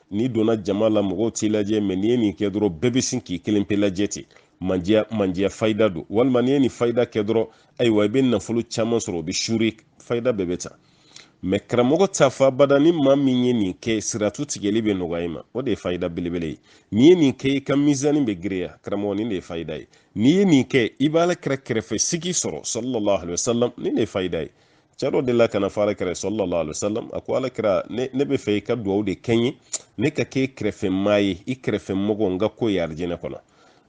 n'i donna jama la mɔgɔw t'i lajɛ mɛ n'i ye nin kɛ dɔrɔn bɛɛ bɛ sin k'i kelen pe lajɛ ten mandiya mandiya fayida don walima n'i ye nin fayida kɛ dɔrɔn ayiwa i bɛ nafolo caman sɔrɔ o bɛ suure fayida bɛɛ bɛ ta mɛ karamɔgɔ t'a fɔ abada ni maa min ye nin kɛ siratu tigɛli bɛ nɔgɔya i ma o de ye fayida belebele ye n'i ye nin kɛ i ka mizani bɛ giriya karamɔgɔ nin de ye fayida ye n'i ye nin kɛ i b'ala kira kɛrɛfɛ sigi sɔrɔ sallallahu alaihi wasallam nin de ye fayida ye cɛ dɔ delila ka n'a fɔ ala kira sallallahu alaihi wasallam a ko ala kira ne, ne bɛ fɛ i ka dugawu de kɛ n ye ne ka k'i kɛrɛfɛ maa ye i kɛrɛfɛ mɔgɔ n ka k'o ye arijinɛ kɔnɔ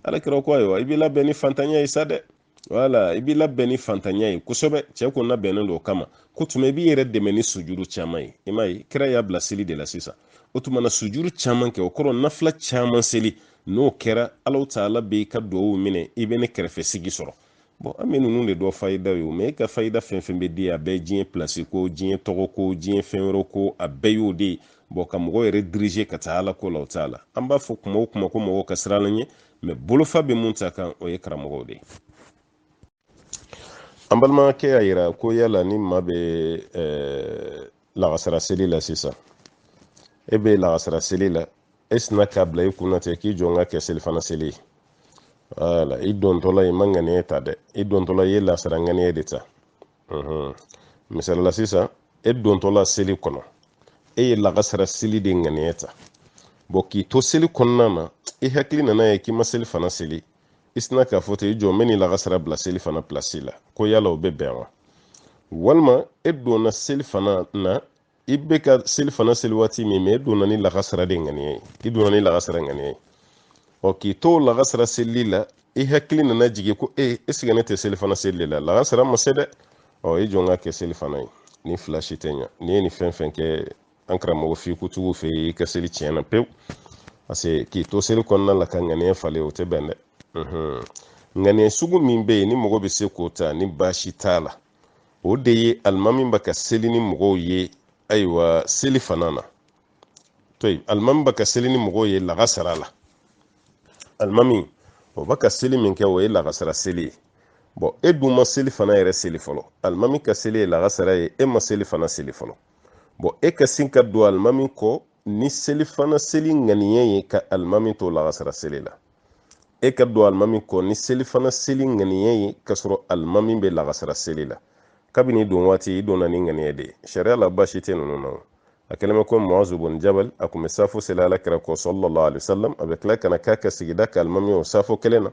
ala kira ko ayiwa i b'i labɛn ni fantanya ye sa dɛ wala i b'i labɛn ni fantanya ye kosɛbɛ cɛ ko n labɛnnen don o kama k'o tuma i b'i yɛrɛ dɛmɛ ni sujuru caman ye i m'a ye kira y'a bila seli de la sisan o tuma na sujuru caman kɛ o kɔrɔ nafila caman seli n'o kɛra ala taala bɛ i ka dugawu minɛ i bɛ ne kɛrɛfɛ sigi sɔrɔ bɔn an bɛ ninnu de dɔn fayida ye o mɛ e ka fayida fɛn fɛn bɛ di a bɛɛ diɲɛ pilasi ko diɲɛ tɔgɔ ko diɲɛ fɛn wɛrɛ ko a bɛɛ y'o de ye bɔn ka mɔgɔ yɛrɛ dirize ka taa ala ko la o t'a la an b'a fɔ kuma o kuma ko mɔgɔ ka siran ala ɲɛ mɛ bolofa bɛ mun ta kan o ye karamɔgɔw de ye an balimakɛ y'a yira ko yala ni maa bɛ ɛɛ lagasara seli la sisan e bɛ lagasara seli la e sina k'a bila i kunna ten k'i jɔ n k'a kɛ selifana seli ye wala i dontɔla i ma ŋaniya ta dɛ i dontɔla i ye lagasara ŋaniya de ta misali la sisan e dontɔla seli kɔnɔ e ye lagasara seli de ŋaniya ta bɔn k'i to seli kɔnɔna na i hakili nana ye k'i ma selifana seli i sina k'a fɔ ten i jɔ n bɛ nin lagasara bila selifana pilasi la ko yala o bɛ bɛn wa walima e donna selifana na i bɛ ka selifana seli waati min mɛ e donna ni lagasara de ŋaniya ye i donna ni lagasara ŋaniya ye ɔ k'i to o lagasara seli la i hakili nana jigin ko e eh, esike ne tɛ selifana seli de la lagasara ma se dɛ ɔ i jɔ n k'a kɛ selifana ye nin fila si tɛ ɲa n'i ye nin fɛn fɛn kɛ an karamɔgɔ fikutigiw fɛ i ka seli tiɲɛna pewu paseke k'i to seli kɔnɔna la ka ŋaniya falen o tɛ bɛn dɛ ŋaniya sugu min bɛ yen ni mɔgɔ bɛ se k'o ta ni baasi t'a la o de ye alimami bɛ ka seli ni mɔgɔw ye ayiwa selifana na to yen alimami bɛ ka seli ni mɔgɔw ye lagasara la alimami o bɛ ka seli min kɛ o ye lagasara seli ye bɔn e dun ma selifana yɛrɛ seli fɔlɔ alimami ka seli ye lagasara ye e ma selifana seli fɔlɔ bɔn e ka sin ka don alimami kɔ ni selifana seli ŋaniya ye ka alimami to lagasara seli la e ka don alimami kɔ ni selifana seli ŋaniya ye ka sɔrɔ alimami bɛ lagasara seli la kabini don waati i donna ni ŋaniya de ye sariya la baasi tɛ ninnu na a kɛlen bɛ ko muazu bun jabal a tun bɛ safo seli ala kira kɔ sallallahu alayhi wa sallam a bɛ tila ka na k'a ka sigida ka alimami o safo kelen na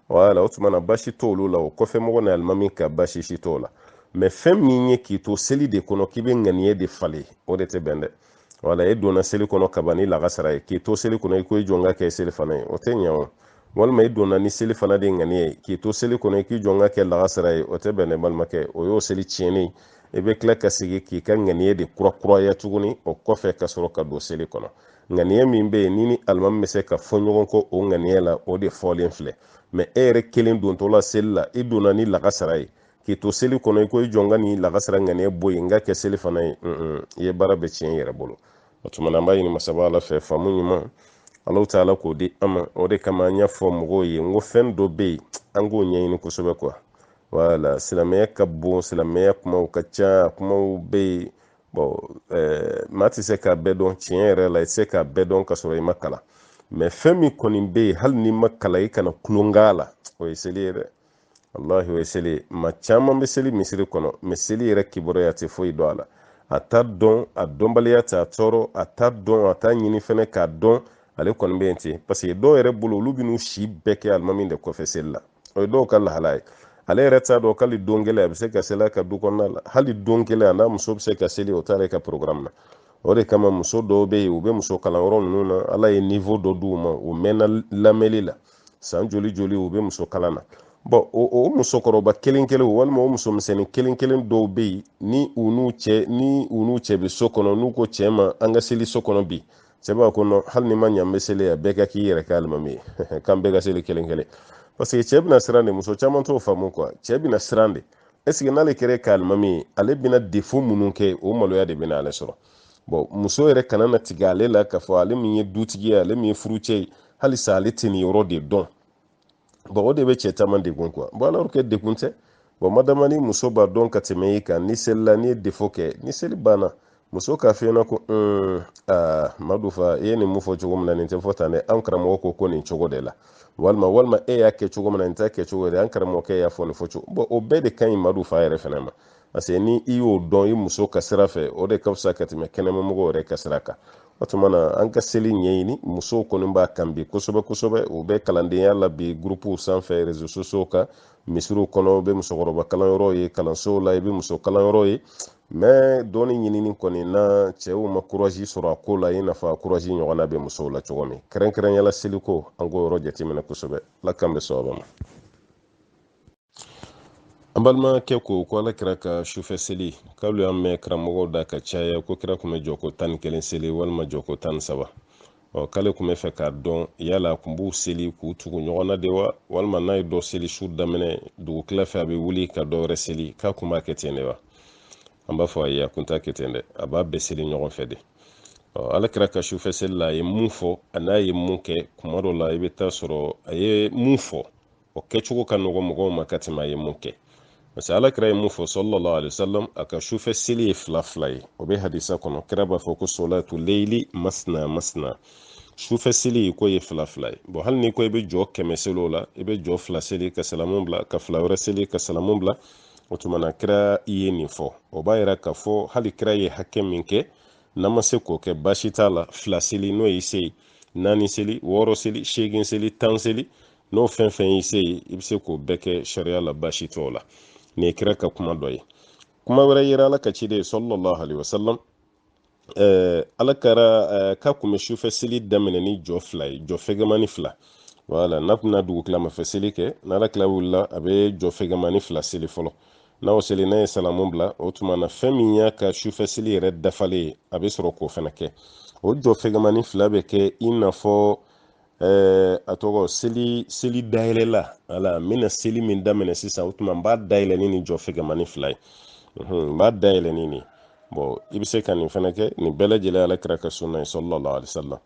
wala o tuma na baasi t'olu la o kɔfɛ mɔgɔ ni alimami ka baasi si t'o la mɛ fɛn min ye k'i to seli de kɔnɔ k'i bɛ ŋaniya de falen o de tɛ bɛn dɛ wala e donna seli kɔnɔ kaban ni lagasara ye k'i to seli kɔnɔ i ko i jɔ n k'a kɛ selifana ye o tɛ ɲɛ o walima i donna ni selifana de ŋaniya ye k'i to seli kɔnɔ i k'i jɔ n k'a kɛ lagasara ye o tɛ bɛn dɛ balimakɛ o y'o seli tiɲɛni i bɛ tila ka sigi k'i ka ŋaniya de kurakuraya tuguni o kɔfɛ ka sɔrɔ ka don seli kɔnɔ ŋaniya min bɛ yen n'i ni alimami bɛ se ka fɔ ɲɔgɔn kɔ o ŋaniya la o de fɔlen filɛ mɛ e yɛrɛ kelen dontɔ la seli la i donna ni lagasara ye k'i to seli kɔnɔ i ko i jɔ n ka nin lagasara ŋaniya bɔ yen n k'a kɛ selifana ye i ye baara bɛɛ tiɲɛ i yɛrɛ bolo o tuma na an b'a ɲini masaba ala fɛ faamu ɲuman ala ta'ala k'o di an ma o de kama an y'a fɔ mɔgɔw ye n ko fɛn dɔ bɛ yen an k'o ɲɛɲini kosɛbɛ kuwa wala silamɛya ka bon silamɛya kumaw ka ca kumaw bɛ yen bɔn eh, maa tɛ se k'a bɛɛ dɔn tiɲɛ yɛrɛ la i tɛ se k'a bɛɛ dɔn ka sɔrɔ i ma kalan mɛ fɛn min kɔni bɛ yen hali n'i ma kalan i kana tulon k'a la o ye seli ye dɛ walahi o ye seli ye maa caman bɛ seli misiri kɔnɔ mɛ seli yɛrɛ kibaruya a tɛ foyi dɔn a la a t'a dɔn a dɔnbaliya t'a tɔɔrɔ a t'a dɔn a t'a ɲini fɛnɛ k'a dɔn ale kɔni bɛ yen ten paseke dɔw yɛrɛ bolo olu bɛn'u si bɛɛ kɛ alimami de kɔfɛ seli la o ye dɔw ka lahala ye ale yɛrɛ t'a dɔn k'ali don kelen a bɛ se ka seli a ka du kɔnɔna la hali don kelen a n'a muso bɛ se ka seli o t'ale ka programme na o de kama muso dɔw bɛ yen u bɛ muso kalanyɔrɔ ninnu na ala ye niveau dɔ d'u ma u mɛnna lamɛnli la san joli joli u bɛ muso kalan na bɔn o musokɔrɔba kelen kelen walima o muso misɛnnin kelen kelen dɔw bɛ yen ni u n'u cɛ ni u n'u cɛ bɛ so kɔnɔ n'u ko cɛ ma an ka seli so kɔnɔ bi cɛ b'a ko non hali ni ma ɲa an bɛ seli a bɛɛ ka k'i yɛrɛ kɛ alimami ye k'an bɛɛ ka seli kelen kelen parce que cɛ bɛna siran de muso caman t'o faamu quoi cɛ bɛna siran de est ce que n'ale kɛra a ka alimami ye ale bɛna defo minnu kɛ o maloya de bɛna ale sɔrɔ bon muso yɛrɛ kana na tigɛ ale la k'a fɔ ale min ye dutigi ye ale min ye furucɛ ye halisa ale tɛ nin yɔrɔ de dɔn bɔn o de bɛ cɛ caman degun quoi bɔn alors que degun tɛ bɔn madama ni muso b'a dɔn ka tɛmɛ i kan ni seli la n'i ye defo kɛ ni seli banna muso k'a f'i ɲɛna ko un aa madu fa i ye nin mun fɔ cogo min na nin tɛ fɔ tan dɛ an karamɔgɔ ko ko nin cogo de la walima walima e y'a kɛ cogo min na nin t'a kɛ cogo de an karamɔgɔkɛ y'a fɔ nin fɔ cogo bɔn o bɛɛ de ka ɲi madu fa yɛrɛ fɛnɛ ma paseke ni i y'o dɔn i muso ka sira fɛ o de ka fisa ka tɛmɛ kɛnɛmamɔgɔ yɛrɛ ka sira kan o tuma na an ka seli ɲɛɲini musow kɔni b'a kan bi kosɛbɛ kosɛbɛ u bɛ kalandenya la bi gurupuw sanfɛ réseaux sociaux kan misiriw kɔnɔ u bɛ musokɔrɔba kalanyɔrɔ ye kalansow la i bɛ muso kalanyɔrɔ ye mɛ dɔnni ɲinini kɔni na cɛw ma kurazi sɔrɔ a ko la i n'a fɔ kurazi ɲɔgɔnna bɛ musow la cogo min kɛrɛnkɛrɛnyala seliko an k'o yɔrɔ jateminɛ kosɛbɛ ala k'an bɛn sawaba ma an balimakɛ ko ko ala kira ka sufɛ seli k'alu y'a mɛn karamɔgɔw da ka caya ko kira kun bɛ jɔ ko tan ni kelen seli walima jɔ ko tan ni saba ɔ k'ale kun b'a fɛ k'a dɔn yala a kun b'u seli k'u tugu ɲɔgɔn na de wa walima n'a ye dɔ seli su daminɛ dugu tila fɛ a bɛ wuli ka dɔ wɛrɛ seli k'a kun b'a kɛ ten de wa an b'a fɔ ayi a kun t'a kɛ ten dɛ a b'a bɛɛ seli ɲɔgɔn fɛ de ala kira ka sufɛ seli la a ye mun fɔ a n'a ye mun kɛ kuma dɔ la i bɛ t'a sɔrɔ a ye mun fɔ o kɛcogo ka nɔgɔ mɔgɔw ma ka tɛmɛ a ye mun kɛ parce que ala kira ye mun fɔ sallallahu alaihi wasallam a ka sufɛ seli ye fila fila ye o bɛ hadisa kɔnɔ kira b'a fɔ ko solatu leili masna masna sufɛ seli ko ye fila fila ye bɔn hali ni ko i bɛ jɔ kɛmɛ seli o la i bɛ jɔ fila seli ka salamu bila ka fila wɛrɛ seli ka salamu bila o tuma na kira ye nin fɔ o b'a yira k'a fɔ hali kira ye hakɛ min kɛ n'an ma se k'o kɛ baasi t'a la fila seli n'o y'i se ye naani seli wɔɔrɔ seli seegin seli tan seli n'o fɛn fɛn y'i se ye i bɛ se k'o bɛɛ kɛ sariya la baasi t'o la nin ye kira ka kuma dɔ ye kuma wɛrɛ yera ala ka ciden sallallahu alaihi wasallam ɛɛ ala kira ɛɛ k'a kun bɛ sufɛ seli daminɛ ni jɔ fila ye jɔ fɛgɛmani fila wala n'a kun bɛna dugukilama fɛ seli kɛ n'ala kira wulila a bɛ jɔ fɛgɛmani fila seli fɔlɔ n'a y'o seli n'a ye salamu bila o tuma na fɛn min y'a ka sufɛ seli yɛrɛ dafalen ye a bɛ sɔrɔ k'o fɛnɛ kɛ o jɔ fɛgɛmani fila bɛ kɛ i n'a fɔ ɛɛ a tɔgɔ seli seli dayɛlɛla ala n bɛna seli min daminɛ sisan o tuma n b'a dayɛlɛ ni nin jɔ fɛgɛmani fila ye n b'a dayɛlɛ ni nin bɔn i bɛ se ka nin fɛnɛ kɛ nin bɛɛ lajɛlen ala kira ka sunna ye sallallahu alaihi wasallam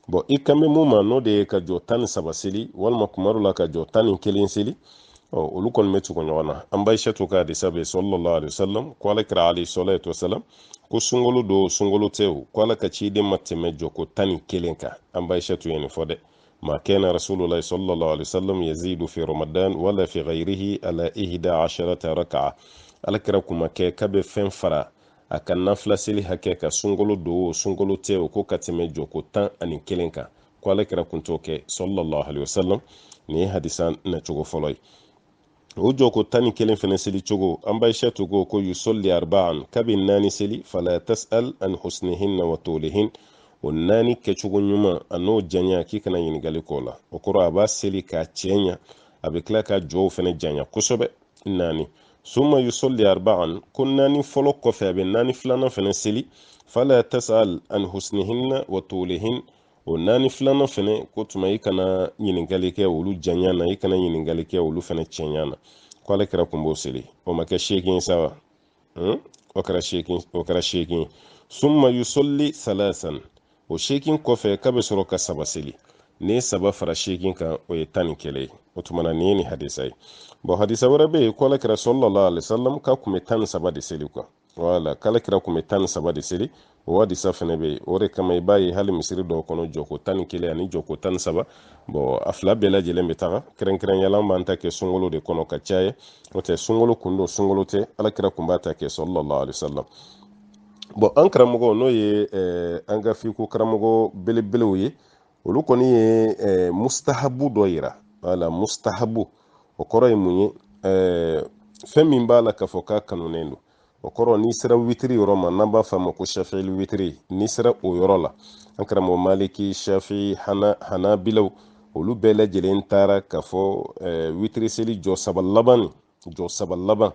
bɔn i kan bɛ mun ma n'o de ye ka jɔ tan ni saba seli walima kuma dɔ la ka jɔ tan ni kelen seli ɔ olu kɔni bɛ tugu ɲɔgɔn na an ba aisatu ka hadisa bɛ sallallahu alaihi wasallam ko ala kira alayhi salatu wasallam ko sunkolo don sunkolo tɛ o ko ala ka ciden ma tɛmɛ jɔko tan ni kelen kan an ba aisatu ye nin fɔ dɛ ma kana rasulullahi sallallahu alaihi wasallam yazidu fi ramadan wala fi ghayrihi ala ihda asharata raka'a ala kira kun ma kɛ k'a bɛ fɛn fara a ka nafila seli hakɛ kan sunkolo don o sunkolo tɛ o ko ka tɛmɛ jɔko tan ani kelen kan ko ala kira kun t'o kɛ sallallahu alaihi wasallam nin ye hadisa nacogo fɔlɔ ye o jɔko tan ni kelen fɛnɛ seli cogo an ba aisatu ko ko yusolli arba'an k'a bɛ naani seli fala tas'al an husnihinna wa tolihin o naani kɛcogo ɲuman an'o janya k'i kana ɲininkali k'o la o kɔrɔ a b'a seli k'a cɛɲa a bɛ tila ka jɔw fɛnɛ janya kosɛbɛ naani summa yusolli arba'an ko naani fɔlɔ kɔfɛ a bɛ naani filanan fɛnɛ seli fala tas'al an husnihinna wa tolihin o naani filanan fɛnɛ k'o tuma i kana ɲininkali kɛ olu janya na i kana ɲininkali kɛ olu fɛnɛ cɛnya na ko ala kira kun b'o seli o ma kɛ seegin sa wa hmm? o kɛra seegin o kɛra seegin summa yusolli salasan o seegin kɔfɛ k'a bɛ sɔrɔ ka saba seli n'i ye saba fara seegin kan o ye tan ni kelen ye o tuma na nin ye nin hadisa ye bɔn hadisa wɛrɛ bɛ yen ko ala kira sallallahu alaihi wasallam k'a kun bɛ tan ni saba de seli kuwa wala k'ala kira kun bɛ tan ni saba de seli o hadisa fɛnɛ bɛ yen o de kama i b'a ye hali misiri dɔw kɔnɔ jɔko tan ni kelen ani jɔko tan ni saba bɔn a fila bɛɛ lajɛlen bɛ taga kɛrɛnkɛrɛnya la an b'an ta kɛ sunkalo de kɔnɔ ka caya o tɛ sunkalo kun don sunkalo tɛ ala kira kun b'a ta kɛ sallallahu alaihi wasallam bɔn an karamɔgɔ n'o ye eh, an ka fiqhu karamɔgɔ belebelew ye olu kɔni ye eh, mustahabu dɔ yira wala mustahabu o kɔrɔ ye mun ye eh, fɛn min b'a la k'a fɔ k'a kanunen don o kɔrɔ n'i sera witiri yɔrɔ ma n'an b'a f'a ma ko shafili witiri n'i sera o yɔrɔ la an karamɔgɔ maliki shafi'i hana hanabilaw olu bɛɛ lajɛlen taara k'a fɔ eh, witiri seli jɔ saba laban nin jɔ saba laban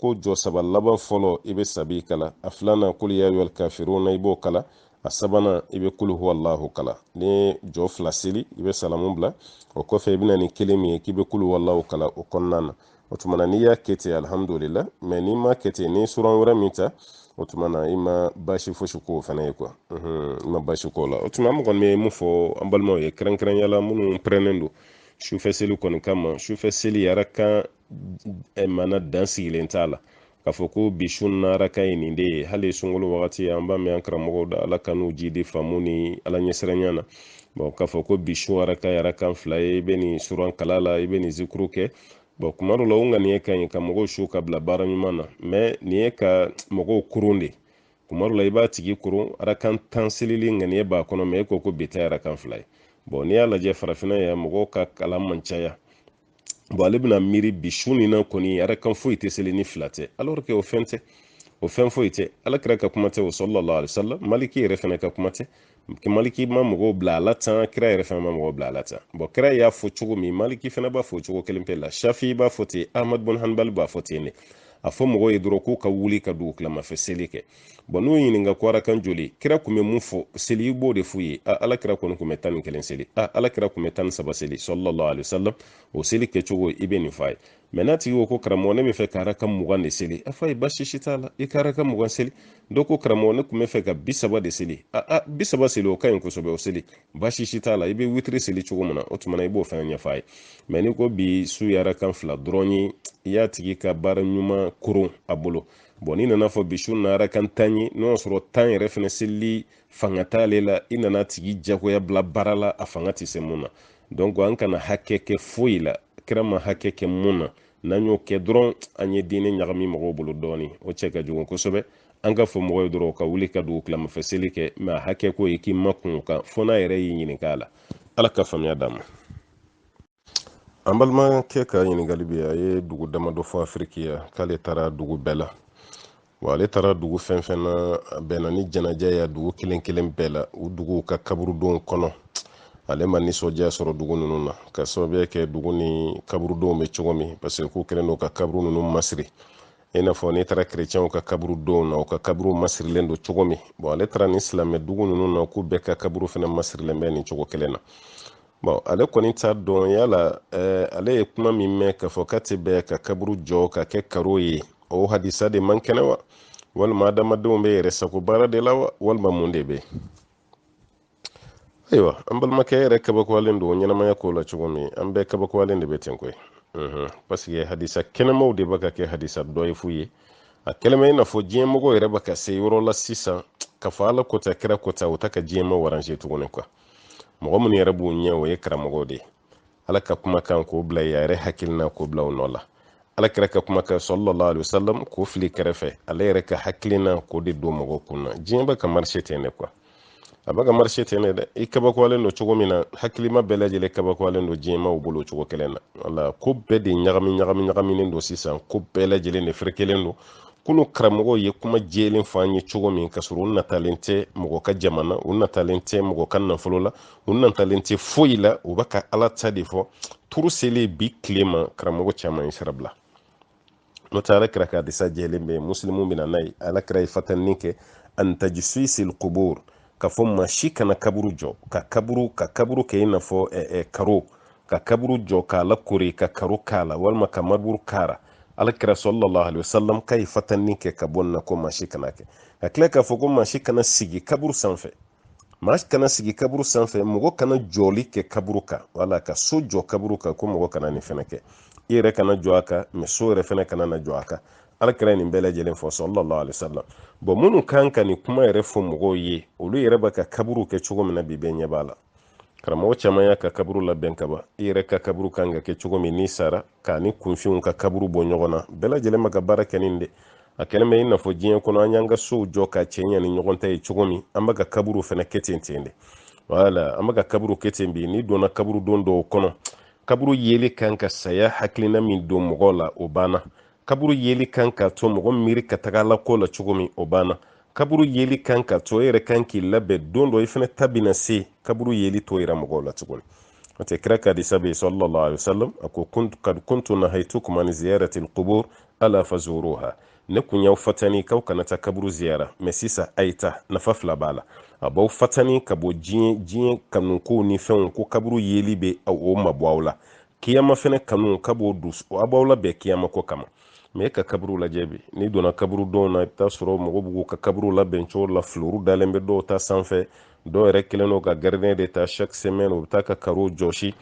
ko jɔ saba laban fɔlɔ i bɛ sabi kalan a filanan kul ya ayyuhal kafiruna i b'o kalan a sabanan i bɛ kulu huwa allahu kalan n'i ye jɔ fila seli i bɛ salamu bila o kɔfɛ i bɛ na ni kelen min ye k'i bɛ kulu huwa allahu kalan o kɔnɔna na o tuma na n'i y'a kɛ ten alihamudulila mɛ n'i m'a kɛ ten n'i suran wɛrɛ min ta o tuma na i ma baasi fosi k'o fana ye kuwa i ma baasi k'o la o tuma an kɔni bɛ mun fɔ an balimaw ye kɛrɛnkɛrɛnya la minnu pɛrɛnnen don sufɛ seli kɔni kama sufɛ seli arakan eh, mana dan sigilen t'a la k'a fɔ ko bi su na arakan ye nin de ye hali sunkalo wagati an b'a mɛn an karamɔgɔw da ala k'an n'u jiidi faamu ni ala ɲɛsiranya na bɔn k'a fɔ ko bi su arakan ye arakan fila ye i bɛ nin suran kalan a la i bɛ nin zikuru kɛ bɔn kuma dɔ la o ŋaniya ka ɲi ka mɔgɔw su ka bila baara ɲuman na mɛ nin ye ka mɔgɔw kurun de kuma dɔ la i b'a tigi koron arakan tan selili ŋaniya b'a kɔnɔ mɛ e ko ko bi ta arakan fila ye bɔn n'i y'a lajɛ farafinna yan mɔgɔw ka kalan man caya bɔn ale bɛna miiri bi su nin na kɔni arakan foyi tɛ seli ni fila tɛ alors que o fɛn tɛ o fɛn foyi tɛ ala kira ka kuma tɛ o sallallahu alaihi wasallam maliki yɛrɛ fana ka kuma tɛ maliki ma mɔgɔw bila a la tan kira yɛrɛ fana ma mɔgɔw bila a la tan bɔn kira y'a fɔ cogo min maliki fana b'a fɔ cogo kelen pe la shafi b'a fɔ ten ahmad bun hanbal b'a fɔ ten ne a fɔ mɔgɔw ye dɔrɔn k'u ka wuli ka dugu kilamafɛ seli kɛ bɔn n'u ɲininka ko arakan joli kira kun bɛ mun fɔ seli i b'o de f'u ye a ala kira kɔni kun bɛ tan ni kelen seli a ala kira kun bɛ tan ni saba seli sallallahu alaihi wasallam o seli kɛcogo i bɛ nin f'a ye mɛ n'a tigi ko ko karamɔgɔ ne b'a fɛ ka arakan mugan de seli a f'a ye baasi si t'a la i ka arakan mugan seli dɔ ko karamɔgɔ ne tun b'a fɛ ka bi saba de seli a a bi saba seli o ka ɲi kosɛbɛ o seli baasi si t'a la i bɛ witiri seli cogo min na o tuma na i b'o fana ɲɛfɔ a ye mɛ n'i ko bi su ye arakan fila dɔrɔn ye i y'a tigi ka baara ɲuman koron a bolo bɔn n'i nan'a fɔ bi su na arakan tan ye n'o y'a sɔrɔ tan yɛrɛ fana selili fanga t'ale la i nan'a tigi jagoya bila baara la a fanga tɛ se mun na donc an kana hakɛ kɛ foyi la kira ma hakɛ kɛ mun na n'an y'o kɛ dɔrɔn an ye diinɛ ɲagami mɔgɔw bolo dɔɔni o cɛ ka jugu kosɛbɛ an k'a fɔ mɔgɔw ye dɔrɔn ka wuli ka dugu kilamafɛ seli kɛ mɛ a hakɛ ko ye k'i makun a kan fo n'a yɛrɛ y'i ɲininka a la ala ka faamuya d'an ma an balimakɛ ka ɲininkali bɛ a ye dugu damadɔ fɔ afiriki yan k'ale taara dugu bɛɛ la wa ale taara dugu fɛn fɛn na a bɛnna ni janaja y'a dugu kelen kelen bɛɛ la u duguw ka kaburudonw kɔnɔ ale ma nisɔndiya sɔrɔ dugu ninnu na ka sababuya kɛ dugu nin kaburudonw bɛ cogo min paseke k'u kɛlen don ka kaburu ninnu masiri i n'a fɔ n'i taara kerecɛnw ka kaburudonw na u ka kaburuw masirilen don cogo min bɔn ale taara ni silamɛ dugu ninnu na k'u bɛɛ ka kaburu fana masirilen bɛ nin cogo kelen na bɔn ale kɔni t'a dɔn yala eh, ale ye kuma min mɛn k'a fɔ k'a tɛ bɛn ka kaburu jɔ ka kɛ karo ye o hadisa de man kɛnɛ wa walima adamadenw b'u yɛrɛ sago baara de la wa walima mun de bɛ ayiwa an balimakɛ yɛrɛ kabakoyalen don ɲɛnamaya ko la cogo min an bɛɛ kabakoyalen de bɛ ten koyi mhm. paseke hadisa kɛnɛmaw de bɛ ka kɛ hadisa dɔyifu ye a kɛlen bɛ i n'a fɔ diɲɛmɔgɔ yɛrɛ bɛ ka se yɔrɔ la sisan ka fɔ ala ko tan kira ko tan o tɛ ka diɲɛmaw aranze tuguni kuwa mɔgɔ minnu yɛrɛ b'u ɲɛ o ye karamɔgɔw de ye ala ka kumakan k'o bila a yɛrɛ hakilina k'o bila o nɔ la ala kira ka kumakan sallallahu alaihi wasallam k'o fili kɛrɛfɛ ale yɛrɛ ka hakilina k'o de don mɔgɔw kun na diɲɛ bɛ ka marise ten de kuwa a bɛ ka marise ten de dɛ i kabakoyalen don cogo min na hakilima bɛɛ lajɛlen kabakoyalen don diɲɛmaw bolo cogo kelen na wala ko bɛɛ de ɲagami ɲagami ɲagaminen don sisan ko bɛɛ lajɛlen de ferekelen don kunu karamɔgɔw ye kuma jɛlen fɔ an ye cogo min ka sɔrɔ u natalen tɛ mɔgɔ ka jaman na u natalen tɛ mɔgɔ ka nafolo la u natalen tɛ foyi la u bɛ ka ala ta de fɔ turu selen bi tile ma karamɔgɔ caman ye sira bila n'o tɛ ala kira ka hadisa jɛlen bɛ musilimu bɛ na n'a ye ala kira ye fatanni kɛ an tajsisil qubur ka fɔ maa si kana kaburu jɔ ka kaburu ka kaburu kɛ i n'a fɔ karo ka kaburu jɔ k'a lakori ka karo k'a la walima ka mariburu k'a la alakira sallallahu alaihi wasallam ka ye fatanni kɛ ka bɔ nin na ko maa si kan'a kɛ ka tila k'a fɔ ko maa si kana sigi kaburu sanfɛ maa kana sigi kaburu sanfɛ mɔgɔ kana jɔli kɛ kaburu kan wala ka so jɔ kaburu kan ko mɔgɔ kana nin fɛnɛ kɛ i yɛrɛ kana jɔ a kan mɛ so yɛrɛ fɛnɛ kana na jɔ a kan alakira nin bɛɛ lajɛlen fɔ sallallahu alaihi wasallam bɔn minnu kan ka nin kuma yɛrɛ fɔ mɔgɔw ye olu yɛrɛ bɛ ka kaburu kɛ cogo min na bi bɛɛ ɲɛ b'a la karamɔgɔ caman y'a ka kaburu labɛn kaban i yɛrɛ ka kaburu kan ka kɛ cogo min n'i sara k'a ni kunfinw ka kaburu bɔ ɲɔgɔn na bɛɛ lajɛlen bɛ ka baara kɛ nin de a kɛlen bɛ i n'a fɔ diɲɛ kɔnɔ an y'an ka sow jɔ k'a cɛɲa ni ɲɔgɔn ta ye cogo min an bɛ ka kaburu fɛnɛ kɛ ten ten de wala an bɛ ka kaburu kɛ ten bi n'i donna kaburudo dɔw kɔnɔ kaburu yeli kan ka saya hakilina min don mɔgɔw la o banna kaburu yeli kan ka to mɔgɔ miiri ka taga ala ko la cogo min o banna kaburu yeli kan ka to e yɛrɛ kan k'i labɛn don dɔ i fɛnɛ ta bɛna se kaburu yeli t'o yira mɔgɔw la tuguni o tɛ kira ka hadisa bɛ sallallahu alaihi wasallam a ko kad kuntu nahaytukum an ziyarati alqubur ala fazuruha ne kun y'aw fatani k'aw kana taa kaburu ziyara mɛ sisan a ye taa nafa fila b'a la a b'aw fatani ka bɔ diɲɛ diɲɛ kanukow ni fɛnw ko kaburu yeli bɛ o mabɔ aw la kiyama fɛnɛ kanu ka b'o don a b'aw labɛn kiyama ko kama mɛ e ka kaburu lajɛ bi n'i donna kaburudow na i bɛ taa sɔrɔ mɔgɔw b'u ka kaburu labɛn cogo la filuru dalen bɛ dɔw ta sanfɛ dɔw yɛrɛ kɛlen don ka gardien de ta chaque semaine u bɛ taa ka karo jɔsi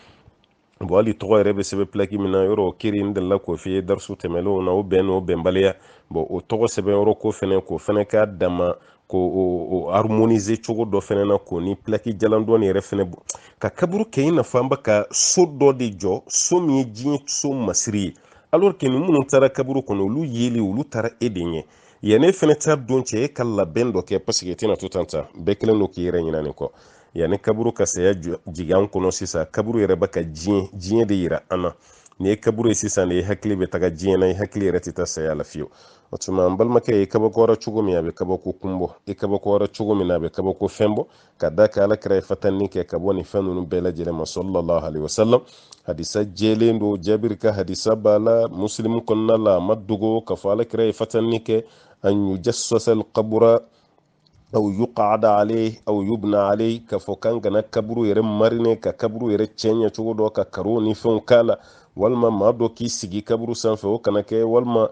bɔn hali tɔgɔ yɛrɛ bɛ sɛbɛn pilaki min na yɔrɔ o kiri n delila k'o f'i ye darisu tɛmɛnlenw na o bɛn n'o bɛnbaliya bɔn o tɔgɔ sɛbɛn yɔrɔ ko fɛnɛ k'o fɛnɛ k'a dama ko o harmoniser cogo dɔ fɛnɛ na k'o ni pilaki jalan dɔɔni yɛrɛ fɛnɛ bɔ ka kaburu kɛ i n'a fɔ an bɛ ka so dɔ de jɔ so min ye diɲɛ so masiri ye alors que nin minnu taara kaburu kɔnɔ olu yeli olu taara e de ɲɛ yanni e fɛnɛ taa don cɛ e ka labɛn dɔ kɛ parce que e tɛna to tan tan bɛɛ kɛlen don k'i yɛrɛ ɲinɛ nin kɔ yanni kaburu ka saya jigin an kɔnɔ sisan kaburu yɛrɛ bɛ ka diɲɛ diɲɛ de yira an na n'i ye kaburu ye sisan de i hakili bɛ taga diɲɛ na i hakili yɛrɛ tɛ taa saya la fiyewu o tuma n balimakɛ i kabakoyara cogo min a bɛ kabako kun bɔ i kabakoyara cogo min na a bɛ kabako fɛn bɔ ka d'a kan ala kira ye fatanni kɛ ka bɔ nin fɛn ninnu bɛɛ lajɛlen ma sallallahu alaihi wasallam hadisa jɛlen don jabiri ka hadisa b'a la musilimu kɔnɔna la a ma dogo k'a fɔ ala kira ye fatanni kɛ an yujasasal kabura aw yuqada alayhi aw yubna alayhi k'a fɔ k'an kana kaburu yɛrɛ marine ka kaburu yɛrɛ cɛɲɛ cogo dɔ ka karow ni fɛnw k'a la walima maa dɔ k'i sigi kaburu sanfɛ o kana kɛ walima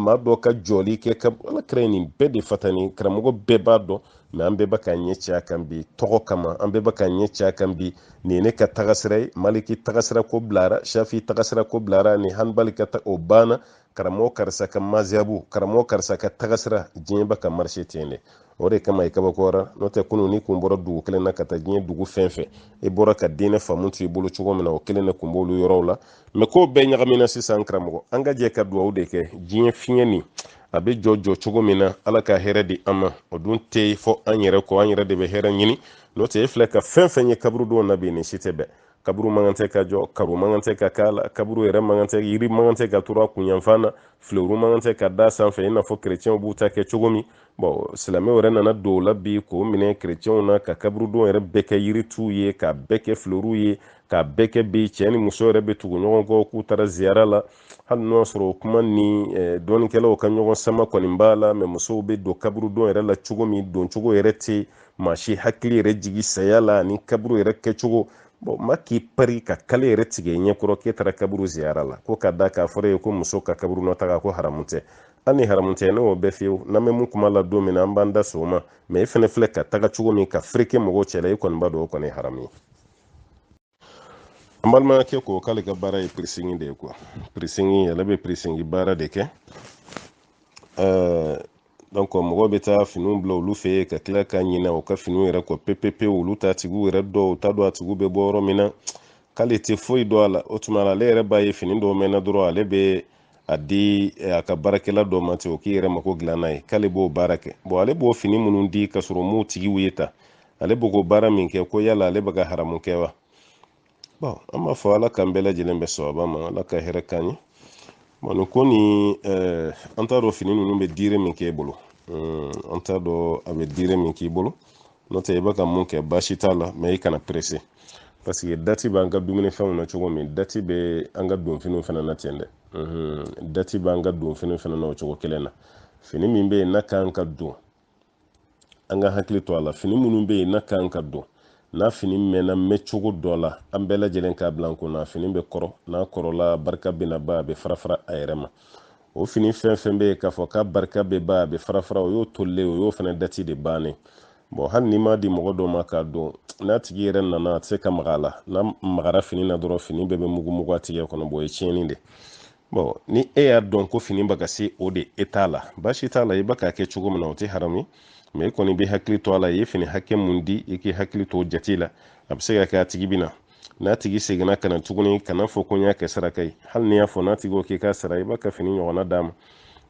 maa dɔ ka jɔli kɛ kaburu ala kira ye nin bɛɛ de fatani karamɔgɔ bɛɛ b'a dɔn mɛ an bɛɛ bɛ ka ɲɛ cɛ a kan bi tɔgɔ kama an bɛɛ bɛ ka ɲɛ cɛ a kan bi nin ye ne ka tagasira ye maliki tagasira ko bilara shafi tagasira ko bilara ni hanbali ka ta o banna karamɔgɔ karisa ka mazihabu karamɔgɔ karisa ka tagasira diɲɛ bɛ ka marcher ten de o de kama i kabakoyara n'o tɛ kunun n'i kun bɔra dugu kelen na ka taa diɲɛ dugu fɛn fɛn i bɔra ka diinɛ faamu to i bolo cogo min na o kelen de kun b'olu yɔrɔw la mɛ ko bɛɛ ɲagamina sisan karamɔgɔ an ka jɛ ka duwawu de kɛ diɲɛ fiɲɛ nin a bɛ jɔ jɔ cogo min na ala ka hɛrɛ di an ma o dun tɛ fɔ an yɛrɛ kɔ an yɛrɛ de bɛ hɛrɛ ɲini n'o tɛ e filɛ ka fɛn fɛn ye kaburudon na bi nin si tɛ bɛn kaburu man kan tɛ ka jɔ karo man kan tɛ ka k'a la kaburu yɛrɛ man kan tɛ yiri man kan tɛ ka turu a kunyanfan na filewuru man kan tɛ ka da sanfɛ i n'a fɔ kerecɛnw b'u ta kɛ cogo min bon silamɛw yɛrɛ nana don o la bi k'o minɛ kerecɛnw na ka kaburudon yɛrɛ bɛɛ kɛ yirituw ye k'a bɛɛ kɛ filewuruw ye k'a bɛɛ kɛ bi cɛ ni muso yɛrɛ bɛ tugu ɲɔgɔn kɔ k'u taara ziyara la hali n'o y'a sɔrɔ o kuma nin dɔnnikɛlaw ka ɲɔgɔn sama kɔni b'a la mɛ musow bɛ don kaburudon yɛrɛ la cogo min doncogo yɛrɛ tɛ maa si hakili yɛrɛ jigin saya la ani kaburu yɛrɛ kɛcogo bon maa k'i pari ka kale yɛrɛ tigɛ ɲɛkɔrɔ k'e taara kaburu ziyara la ko ka d'a kan a fɔra i ye ko muso ka kaburu nɔ taga ko haramu tɛ hali ni haramu tɛ ne y'o bɛɛ fiyewu n'an bɛ mun kuma la don min na an b'an da s'o ma mɛ e fɛnɛ filɛ ka taga cogo min ka fereke mɔgɔw cɛla i kɔni b'a dɔn o kɔni ye haramu ye an balimakɛ ko k'ale ka baara ye pirisingi de ye quoi pirisingi ale bɛ pirisingi baara de kɛ donc mɔgɔw bɛ taa finiw bila olu fɛ yen ka tila ka ɲinɛ u ka finiw yɛrɛ kɔ pepepe olu t'a tigiw yɛrɛ dɔn u t'a dɔn a tigiw bɛ bɔ yɔrɔ min na k'ale tɛ foyi dɔn a la o tuma ale yɛrɛ b'a ye fini dɔw mɛnna dɔrɔn ale bɛ a di eh, a ka baarakɛla dɔ ma ten o k'i yɛrɛ mako dilan n'a ye k'ale b'o baara kɛ bon ale b'o fini minnu di ka sɔrɔ m'u tigiw ye ta ale bɛ k'o baara min kɛ ko yala ale bɛ ka haramu kɛ wa bon an b'a fɔ ala k'an bɛɛ lajɛlen bɛn sawaba ma ala ka hɛrɛ k'an ye bon nin ko nin eh, an t'a dɔn fini ninnu bɛ diire min k'e bolo hmm, an t'a dɔn a bɛ diire min k'i bolo n'o tɛ i bɛ ka mun kɛ baasi t'a la mɛ i kana perese parce que dati b'an ka dumunifɛnw na cogo min dati bɛ an ka donfiniw fana na ten dɛ hmm, dati b'an ka donfiniw fana na o cogo kelen na fini min bɛ yen n'a kan ka don an ka hakili to a la fini minnu bɛ yen n'a kan ka don n'a fini mɛnna mɛn cogo dɔ la an bɛɛ lajɛlen k'a bila an kun na fini bɛ kɔrɔ n'a kɔrɔla barika bɛna ban a bɛ farafara a yɛrɛ ma o fini fɛn fɛn bɛ yen k'a fɔ k'a barika bɛ ban a bɛ farafara o y'o tolilen o y'o fana dati de bannen bɔn hali n'i m'a di mɔgɔ dɔ ma k'a don n'a tigi yɛrɛ nana a tɛ se ka maga a la n'a magara fini na dɔrɔn fini bɛɛ bɛ mugumugu a tigɛ kɔnɔ bɔn o ye tiɲɛni de bɔn ni e y'a dɔn ko fini bɛ ka se o dati la baasi t'a la i bɛ k'a kɛ cogo min na o tɛ haram ye mɛ i kɔni bɛ hakili to a la i ye fini hakɛ mun di i k'i hakili to jate la a bɛ se ka kɛ a tigi bɛ na n'a tigi seginna ka na tuguni kana fɔ ko n y'a kɛ saraka ye hali n'i y'a fɔ n'a tigi ko k'i k'a sara i b'a ka fini ɲɔgɔnna d'a ma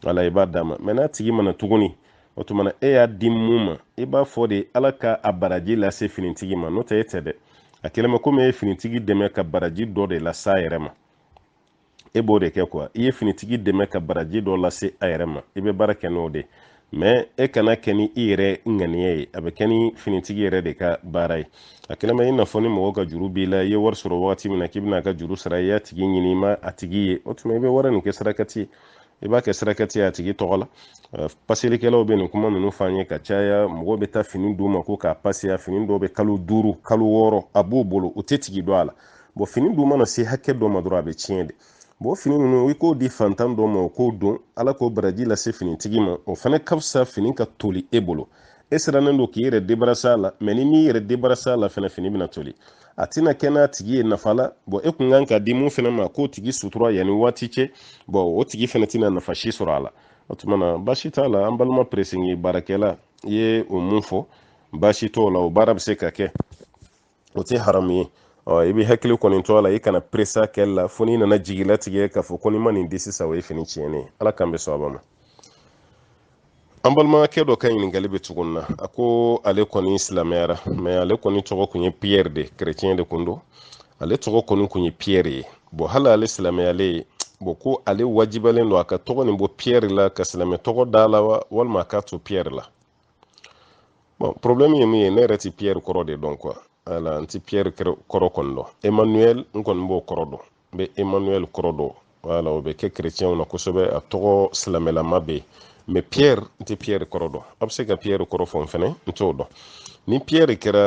wala i b'a d'a ma mɛ n'a tigi ma na tuguni o tuma na e y'a di mun ma i b'a fɔ de ala ka a baraji lase finitigi ma n'o tɛ e tɛ dɛ a kɛlen bɛ komi e ye finitigi dɛmɛ ka baraji dɔ de lase a yɛrɛ ma e b'o de kɛ kuwa i ye finitigi dɛmɛ ka baraji dɔ lase a yɛrɛ ma i bɛ baara kɛ n'o de mɛ e kan'a kɛ ni i yɛrɛ ŋaniya ye a bɛ kɛ ni finitigi yɛrɛ de ka baara ye a kɛlen bɛ i n'a fɔ ni mɔgɔ ka juru b'i la i ye wari sɔrɔ wagati min na k'i bɛna a ka juru sara i y'a tigi ɲini i ma a tigi ye o tuma i bɛ wari nin kɛ sarakati i b'a kɛ sarakati ye a tigi tɔgɔ la paselikɛlaw bɛ nin kuma ninnu fɔ an ye ka caya mɔgɔw bɛ taa fini d'u ma ko k'a paseya fini dɔw bɛ kalo duuru kalo wɔɔrɔ a b'u bolo u tɛ tigi dɔn a la bɔn fini dun mana se hakɛ dɔ ma dɔrɔn a bɛ tiɲɛ de bɔn fini ninnu i k'o di fantan dɔ ma o k'o don ala k'o baraji lase finitigi ma o fana ka fisa fini ka toli e bolo e sirannen don k'i yɛrɛ debarasa a la mɛ n'i m'i yɛrɛ debarasa a la fana fini bɛna toli a tɛna kɛ n'a tigi ye nafa la bɔn e kun kan k'a di mun fɛnɛ ma k'o tigi sutura yanni waati cɛ bɔn o tigi fɛnɛ tɛna nafa si sɔrɔ a la o tuma na baasi t'a la an balima peresingi baarakɛla i ye o mun fɔ baasi t'o la o baara bɛ se ka kɛ o tɛ haramu ye ɔ i bɛ hakili kɔni to a la i kana peres'a kɛli la fo n'i nana jigilatigɛ k'a fɔ ko n'i ma nin di sisan o ye fini tiɲɛnen ye ala k'an bɛn sawaba ma an balimakɛ dɔ ka ɲininkali bɛ tɔgɔ nin na a ko ale kɔni silamɛyara mɛ ale kɔni tɔgɔ kun ye piyɛri de kerecɛn de kun don ale tɔgɔ kɔni kun ye piyɛri ye bɔn hali ale silamɛyalen bɔn ko ale wajibiyalen don a ka tɔgɔ nin bɔ piyɛri la ka silamɛ tɔgɔ d'a la wa walima a k'a to piyɛri la bɔn problɛmu ye min ye ne yɛrɛ ti piyɛri kɔrɔ de dɔn kuwa ala n ti piyɛri kɔrɔ kɔni dɔn emmanuel n kɔni b'o kɔrɔ dɔn n bɛ emmanuel kɔrɔ dɔn wala o bɛ kɛ kerecɛnw na kosɛbɛ a tɔgɔ silamɛlama bɛ yen mɛ pierre n tɛ pierre kɔrɔ dɔn a bɛ se ka pierre kɔrɔ fɔ n fɛnɛ n t'o dɔn ni pierre kɛra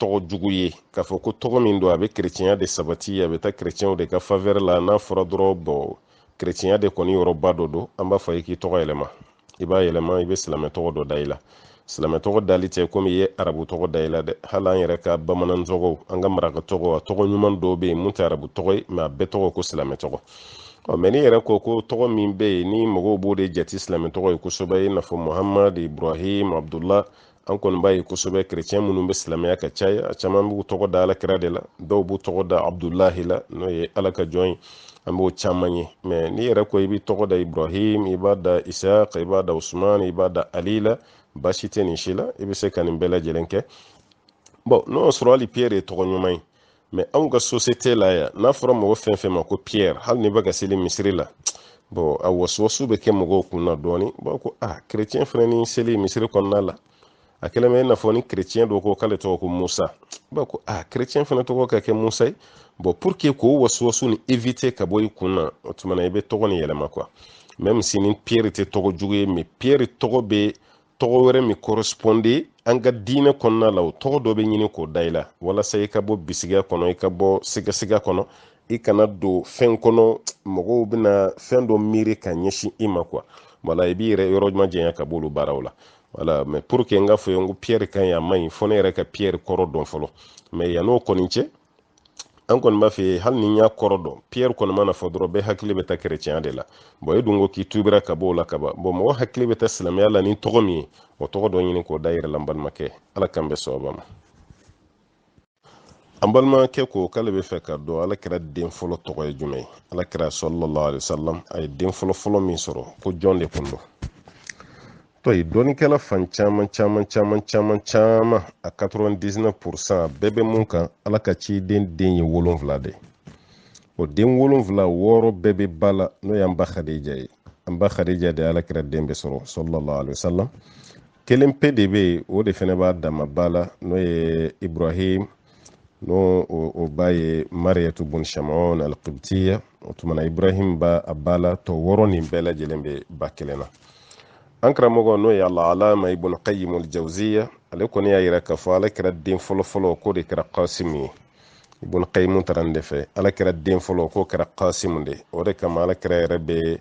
tɔgɔ jugu ye k'a fɔ ko tɔgɔ min don a bɛ kerecɛnya de sabati a bɛ taa kerecɛnw de ka favɛrɛ la n'a fɔra dɔrɔn bɔn kerecɛnya de kɔni yɔrɔba dɔ don an b'a fɔ i ye k'i tɔgɔ yɛlɛma i b'a yɛlɛma i bɛ silamɛ tɔgɔ dɔ da i la silamɛ tɔgɔ dali tɛ komi i ye arabu tɔgɔ da i la dɛ hali an yɛrɛ ka bamanan tɔgɔw an ka maraka tɔgɔw a tɔgɔ ɲuman dɔw bɛ yen mun tɛ arabu tɔgɔ ye mɛ a bɛɛ tɔgɔ ko silamɛ tɔgɔ ɔ mɛ n'i yɛrɛ ko ko tɔgɔ min bɛ yen ni mɔgɔw b'o de jate silamɛ tɔgɔ ye kosɛbɛ i n'a fɔ muhamadu ibrahim abdullah an kɔni b'a ye kosɛbɛ kerecɛn minnu bɛ silamɛya ka caya a caman b'u tɔgɔ da alakira de la dɔw b'u tɔgɔ da abudulahi la n'o ye ala ka jɔn ye an b'o caman ye mɛ n'i yɛrɛ ko i b'i tɔgɔ da ibrahim i b'a da isaq i b'a da usman i b'a da ali la baasi tɛ nin si la i bɛ se ka nin bɛɛ lajɛlen kɛ bɔn n'o y'a sɔrɔ hali piyɛri ye tɔgɔ ɲuman ye mɛ anw ka sosiyete la yan n'a fɔra mɔgɔ fɛn fɛn ma ko piyɛri hali n'i bɛ ka seli misiri la bɔn a wasuwasu bɛ kɛ mɔgɔw kun na dɔɔni b'a ko a ah, kerecɛn fɛnɛ ni seli misiri kɔnɔna la a kɛlen bɛ i n'a fɔ ni kerecɛn dɔ ko k'ale tɔgɔ ko musa b'a ko a ah, kerecɛn fɛnɛ tɔgɔ ka kɛ musa ye bɔn pour que k'o wasuwasu nin evite ka bɔ i kun na o tuma na i bɛ tɔgɔ nin yɛlɛma kuwa mɛm si ni piyɛri tɛ tɔgɔ jugu ye mɛ piyɛri tɔgɔ bɛ tɔgɔ wɛrɛ min corresponde an ka diinɛ kɔnɔna la o tɔgɔ dɔ bɛ ɲini k'o da i la walasa i ka bɔ bisigiya kɔnɔ i ka bɔ sigasiga kɔnɔ i kana don fɛn kɔnɔ mɔgɔw bɛna fɛn dɔ miiri ka ɲɛsin i ma kuwa wala i b'i yɛrɛ yɔrɔ ɲuman janya ka b'olu baaraw la wala mɛ pour que n k'a fɔ i ye ko piyɛri ka ɲi a man ɲi fo ne yɛrɛ ka piyɛri kɔrɔ dɔn fɔlɔ mɛ yann'o kɔni cɛ an kɔni b'a fɛ hali n'i y'a kɔrɔ dɔn piyɛri kɔni mana fɔ dɔrɔn bɛɛ hakili bɛ taa kɛrɛcɛnya de la bɔn e dun ko k'i tubira ka b'o la ka ban bɔn mɔgɔ hakili bɛ taa silamɛya la ni tɔgɔ min ye o tɔgɔ dɔ ɲini k'o da i yɛrɛ la n balimakɛ ala k'an bɛn sawaba ma an balimakɛ ko k'ale b'a fɛ k'a dɔn ala kira den fɔlɔ tɔgɔ ye jumɛn ye ala kira sallallahu alayhi wa sallam a ye den fɔlɔ fɔlɔ min sɔrɔ ko jɔn de kun don tɔ ye dɔnnikɛla fan caman caman caman caman caman a 99 pourcent a bɛɛ bɛ mun kan ala ka ciden den ye wolonfila de o den wolonfila wɔɔrɔ bɛɛ bɛ ba la n'o y'an ba khadija ye an ba khadija de ala kira den bɛɛ sɔrɔ sallallahu alaihi wasallam kelen pe de bɛ yen o de fɛnɛ b'a dama ba la n'o ye ibrahim n'o o ba ye mariyatu bun shamon alqibtiya o tuma na ibrahim ba a ba la tɔ wɔɔrɔ nin bɛɛ lajɛlen bɛ ba kelen na an karamɔgɔ n'o ye alaalama ibn qayyim aljawziya ale kɔni y'a yira k'a fɔ ala kira den fɔlɔfɔlɔ k'o de kɛra kasimu ye ibn qayyim taara nin de fɛ ala kira den fɔlɔ k'o kɛra kasimu de o de kama ala kira yɛrɛ bɛ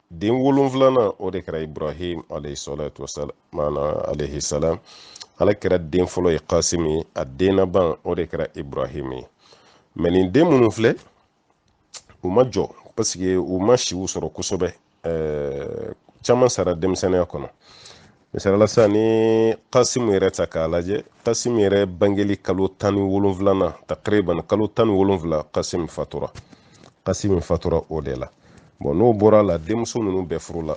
den wolonfilanan o de kɛra ibrahim alayhisalatu wasalam maana alayhisalam ala kira den fɔlɔ ye kasim ye a den laban o de kɛra ibrahim ye mɛ nin den minnu filɛ u ma jɔ pasike u ma siw sɔrɔ kosɛbɛ caman sara denmisɛnninya kɔnɔ misali la sisan ni kasimu yɛrɛ ta k'a lajɛ kasimu yɛrɛ bangeli kalo tan ni wolonfila na takriban kalo tan ni wolonfila kasimu fatura kasimu fatura o de la bɔn n'o bɔra la denmuso ninnu bɛɛ furula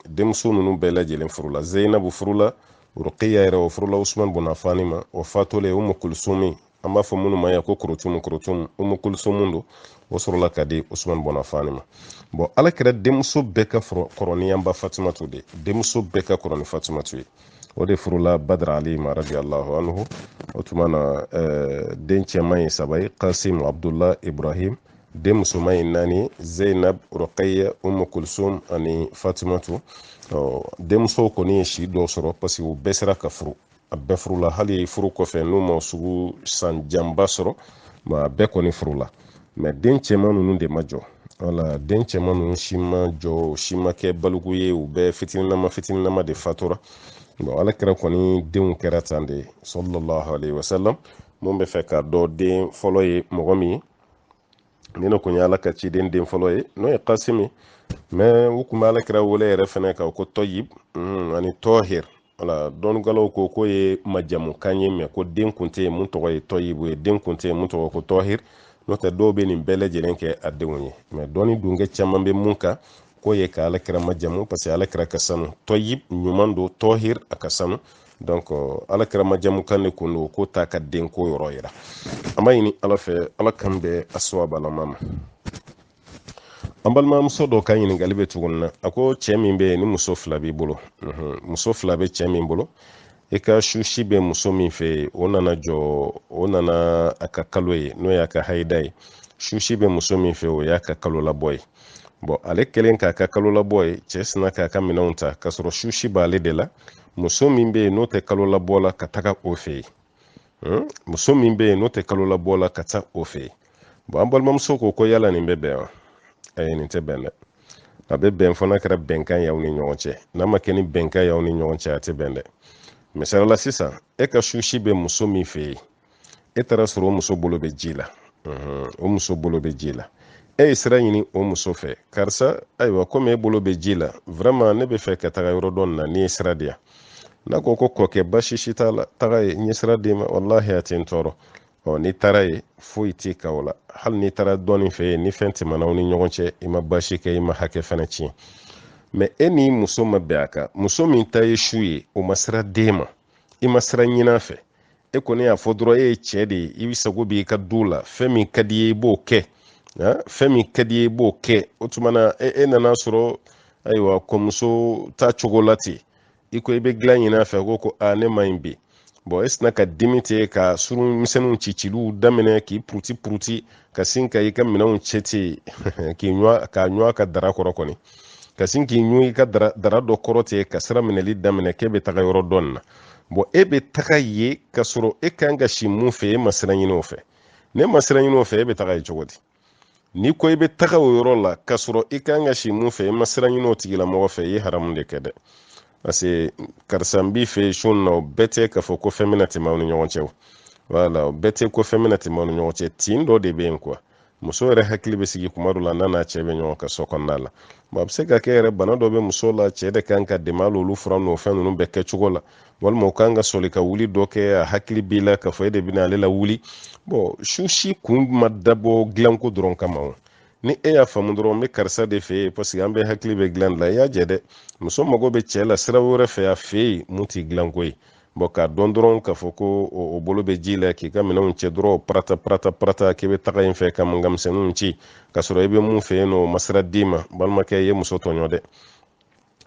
denmuso ninnu bɛɛ lajɛlen furula zeyinabu furula rukiya yɛrɛ o furula usman bun afani ma o fatulen umu kulusumi an b'a fɔ minnu ma yan ko korotumu korotumu umu kulusumu don o sɔrɔla ka di usumani bun afani ma bɔn ala kira denmuso bɛɛ ka kɔrɔ ni an ba fatumatu de denmuso bɛɛ ka kɔrɔ ni fatumatu ye o de furula badara ali ma radiallahu anhu o tuma na eh, den cɛman ye saba ye kasim abdullah ibrahim den musoman ye naani zeinab rɔkaya umu kulsum ani fatumatu denmusow kɔni ye si dɔ sɔrɔ parce que u bɛɛ sera ka furu a bɛɛ furula hali furu kɔfɛ n'u ma sugu san janba sɔrɔ mɛ a bɛɛ kɔni furula mɛ den cɛman ninnu de ma jɔ wala den cɛman ninnu si ma jɔ si ma kɛ baliku ye u bɛɛ fitininama fitininama de fatura bon ala kira kɔni denw kɛra tan de sallallahu alaihi wasallam mun bɛ fɛ k'a dɔn den fɔlɔ ye mɔgɔ min ye nin de kun ye ala ka ciden den fɔlɔ ye n'o ye kasim ye mɛ u kun bɛ ala kira wele yɛrɛ fɛnɛ ka ko tɔyib ani tɔhir wala dɔnnikɛlaw ko k'o ye majamukan ye mɛ ko den kun tɛ yen mun tɔgɔ ye tɔyibu ye den kun tɛ yen mun tɔgɔ ko tɔhir n'o tɛ dɔw bɛ nin bɛɛ lajɛlen kɛ a denw ye mɛ dɔnni dunkɛ caman bɛ mun kan k'o ye ka alakira majamu parce que alakira ka sanu tɔyib ɲuman don tɔhir a ka sanu donc alakira majamukan de kun don k'o t'a ka denko yɔrɔ yira an b'a ɲini ala fɛ ala k'an bɛn a sawabalama ma an balimamuso dɔ ka ɲininkali bɛ tuguni na a ko cɛ min bɛ yen ni muso fila b'i bolo mhm. muso fila bɛ cɛ min bolo i ka susi bɛ muso min fɛ yen o nana jɔ o nana a ka kalo ye n'o y'a ka hayida ye susi bɛ muso min fɛ o y'a ka kalo labɔ ye bɔn ale kɛlen k'a ka kalo labɔ ye cɛ sinna k'a ka minɛnw ta k'a sɔrɔ susi b'ale de la muso min bɛ yen n'o tɛ kalo labɔ la ka taga o fɛ yen hmm? muso min bɛ yen n'o tɛ kalo labɔ la ka taa o fɛ yen bɔn an balimamuso ko ko yala nin bɛ bɛn wa ayi nin tɛ bɛn dɛ a bɛ bɛn fo n'a kɛra bɛnkan y'aw ni ɲɔgɔn cɛ n'a ma kɛ ni bɛnkan y'aw ni ɲɔgɔn cɛ a tɛ bɛn dɛ misali la sisan e ka susi bɛ muso min fɛ yen e taara sɔrɔ o muso bolo bɛ ji la hmm, o muso bolo bɛ ji la e ye sira ɲini o muso fɛ karisa ayiwa komi e bolo bɛ ji la vraiment ne bɛ fɛ ka taga yɔrɔ dɔ nin na n'i ye sira di yan n'a ko ko kɔkɛ basi si t'a la taga yen n ye sira d'i ma walahi a tɛ n tɔɔrɔ ɔ n'i taara yen foyi t'i kan o la hali n'i taara dɔɔnin fɛ yen ni fɛn tɛmɛna aw ni ɲɔgɔn cɛ i ma basi kɛ i ma hakɛ fana tiɲɛ mais e ni muso ma bɛn a kan muso min ta ye su ye o ma sira d'e ma i ma sira ɲin'a fɛ e kɔni y'a fɔ dɔrɔn e ye cɛ de ye i bɛ sago b'i ka du la fɛn min ka d'i ye i b'o kɛ fɛn min ka d'i ye i b'o kɛ o tuma na e, e nana sɔrɔ ayiwa kɔmuso ta cogo la ten i ko i bɛ dilan ɲin'a fɛ ko ko a ne man ɲi bi bon e sina ka dimi ten ka suru misɛnninw ciciliw daminɛ k'i puruti puruti ka sin ka i ka minɛnw cɛ ten k'i ɲɔ ka ɲɔ ka dara kɔrɔ kɔni ka sin k'i ɲun i ka dara dɔ kɔrɔ ten ka sira minɛli daminɛ k'e bɛ taga yɔrɔ dɔ in na bon e bɛ taga yen k'a sɔrɔ e kan ka si min fɛ e ma sira ɲini o fɛ n'e ma sira ɲini o fɛ e bɛ taga yen cogo di n'i ko i bɛ taga o yɔrɔ la k'a sɔrɔ i kan ka si min fɛ e ma sira ɲini o tigilamɔgɔ fɛ i ye haramu de kɛ dɛ parce que karisa n b'i fɛ su in na o bɛɛ tɛ k'a fɔ ko fɛn bɛna tɛmɛ aw ni ɲɔgɔn cɛ o voilà o bɛɛ tɛ ko fɛn bɛna tɛmɛ aw ni ɲɔgɔn cɛ tin dɔ de bɛ yen quoi muso yɛrɛ hakili bɛ sigi kuma dɔ la n'a n'a cɛ bɛ ɲɔgɔn kan so kɔnɔna la bon a bɛ se ka kɛ yɛrɛ bana dɔ bɛ muso la cɛ de kan k'a dɛmɛ hali olu fura n'o fɛn ninnu bɛɛ kɛcogo la walima o kan ka sɔli ka wuli dɔ kɛ a hakili b'i la k'a fɔ e de bɛna ale lawuli bon su si kun ma dabɔ dilanko dɔrɔn kama o ni e y'a faamu dɔrɔn n bɛ karisa de fɛ yen parce que an bɛɛ hakili bɛ dilan la i y'a jɛ dɛ muso mago bɛ cɛ la sira wɛrɛ fɛ a fɛ yen min tɛ dilanko ye bon k'a dɔn dɔrɔn k'a fɔ ko o bolo bɛ ji la k'i ka minɛnw cɛ dɔrɔn parata parata parata k'i bɛ taga in fɛ ka mankan misɛnninw ci k'a sɔrɔ i bɛ min fɛ yen nɔ o ma sira d'i ma balimakɛ i ye muso tɔɲɔ dɛ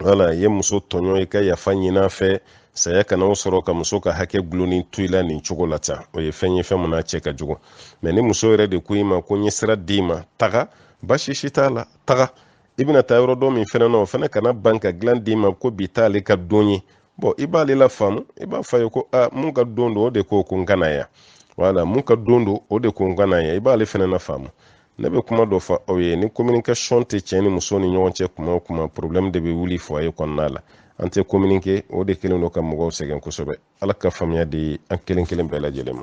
voilà i ye muso tɔɲɔ i ka yafa ɲin'a fɛ saya kana o sɔrɔ ka muso ka hakɛ gulonnen to i la nin cogo la tan o ye fɛn ye fɛn min n'a cɛ ka jugu mais ni muso yɛrɛ de ko i ma ko n ye sira d'i ma taga basi si t'a la taga i bɛna taa yɔrɔ dɔ min fɛnɛ na o fɛnɛ ka na ban ka dilan d'i ma ko bi t'ale ka don ye bon i b'ale lafaamu i b'a fɔ a ye ko a min ka don don o de ko ko n ka na yan voilà min ka don don o de ko n ka na yan i b'ale fana nafaamu ne bɛ kuma dɔ fɔ aw ye ni communication tɛ cɛ ni muso ni ɲɔgɔn cɛ kuma o kuma problème de bɛ wuli foyer kɔnɔna la an tɛ communiquer o de kelen don ka mɔgɔw sɛgɛn kosɛbɛ ala ka faamuya di an kelen kelen bɛɛ lajɛlen ma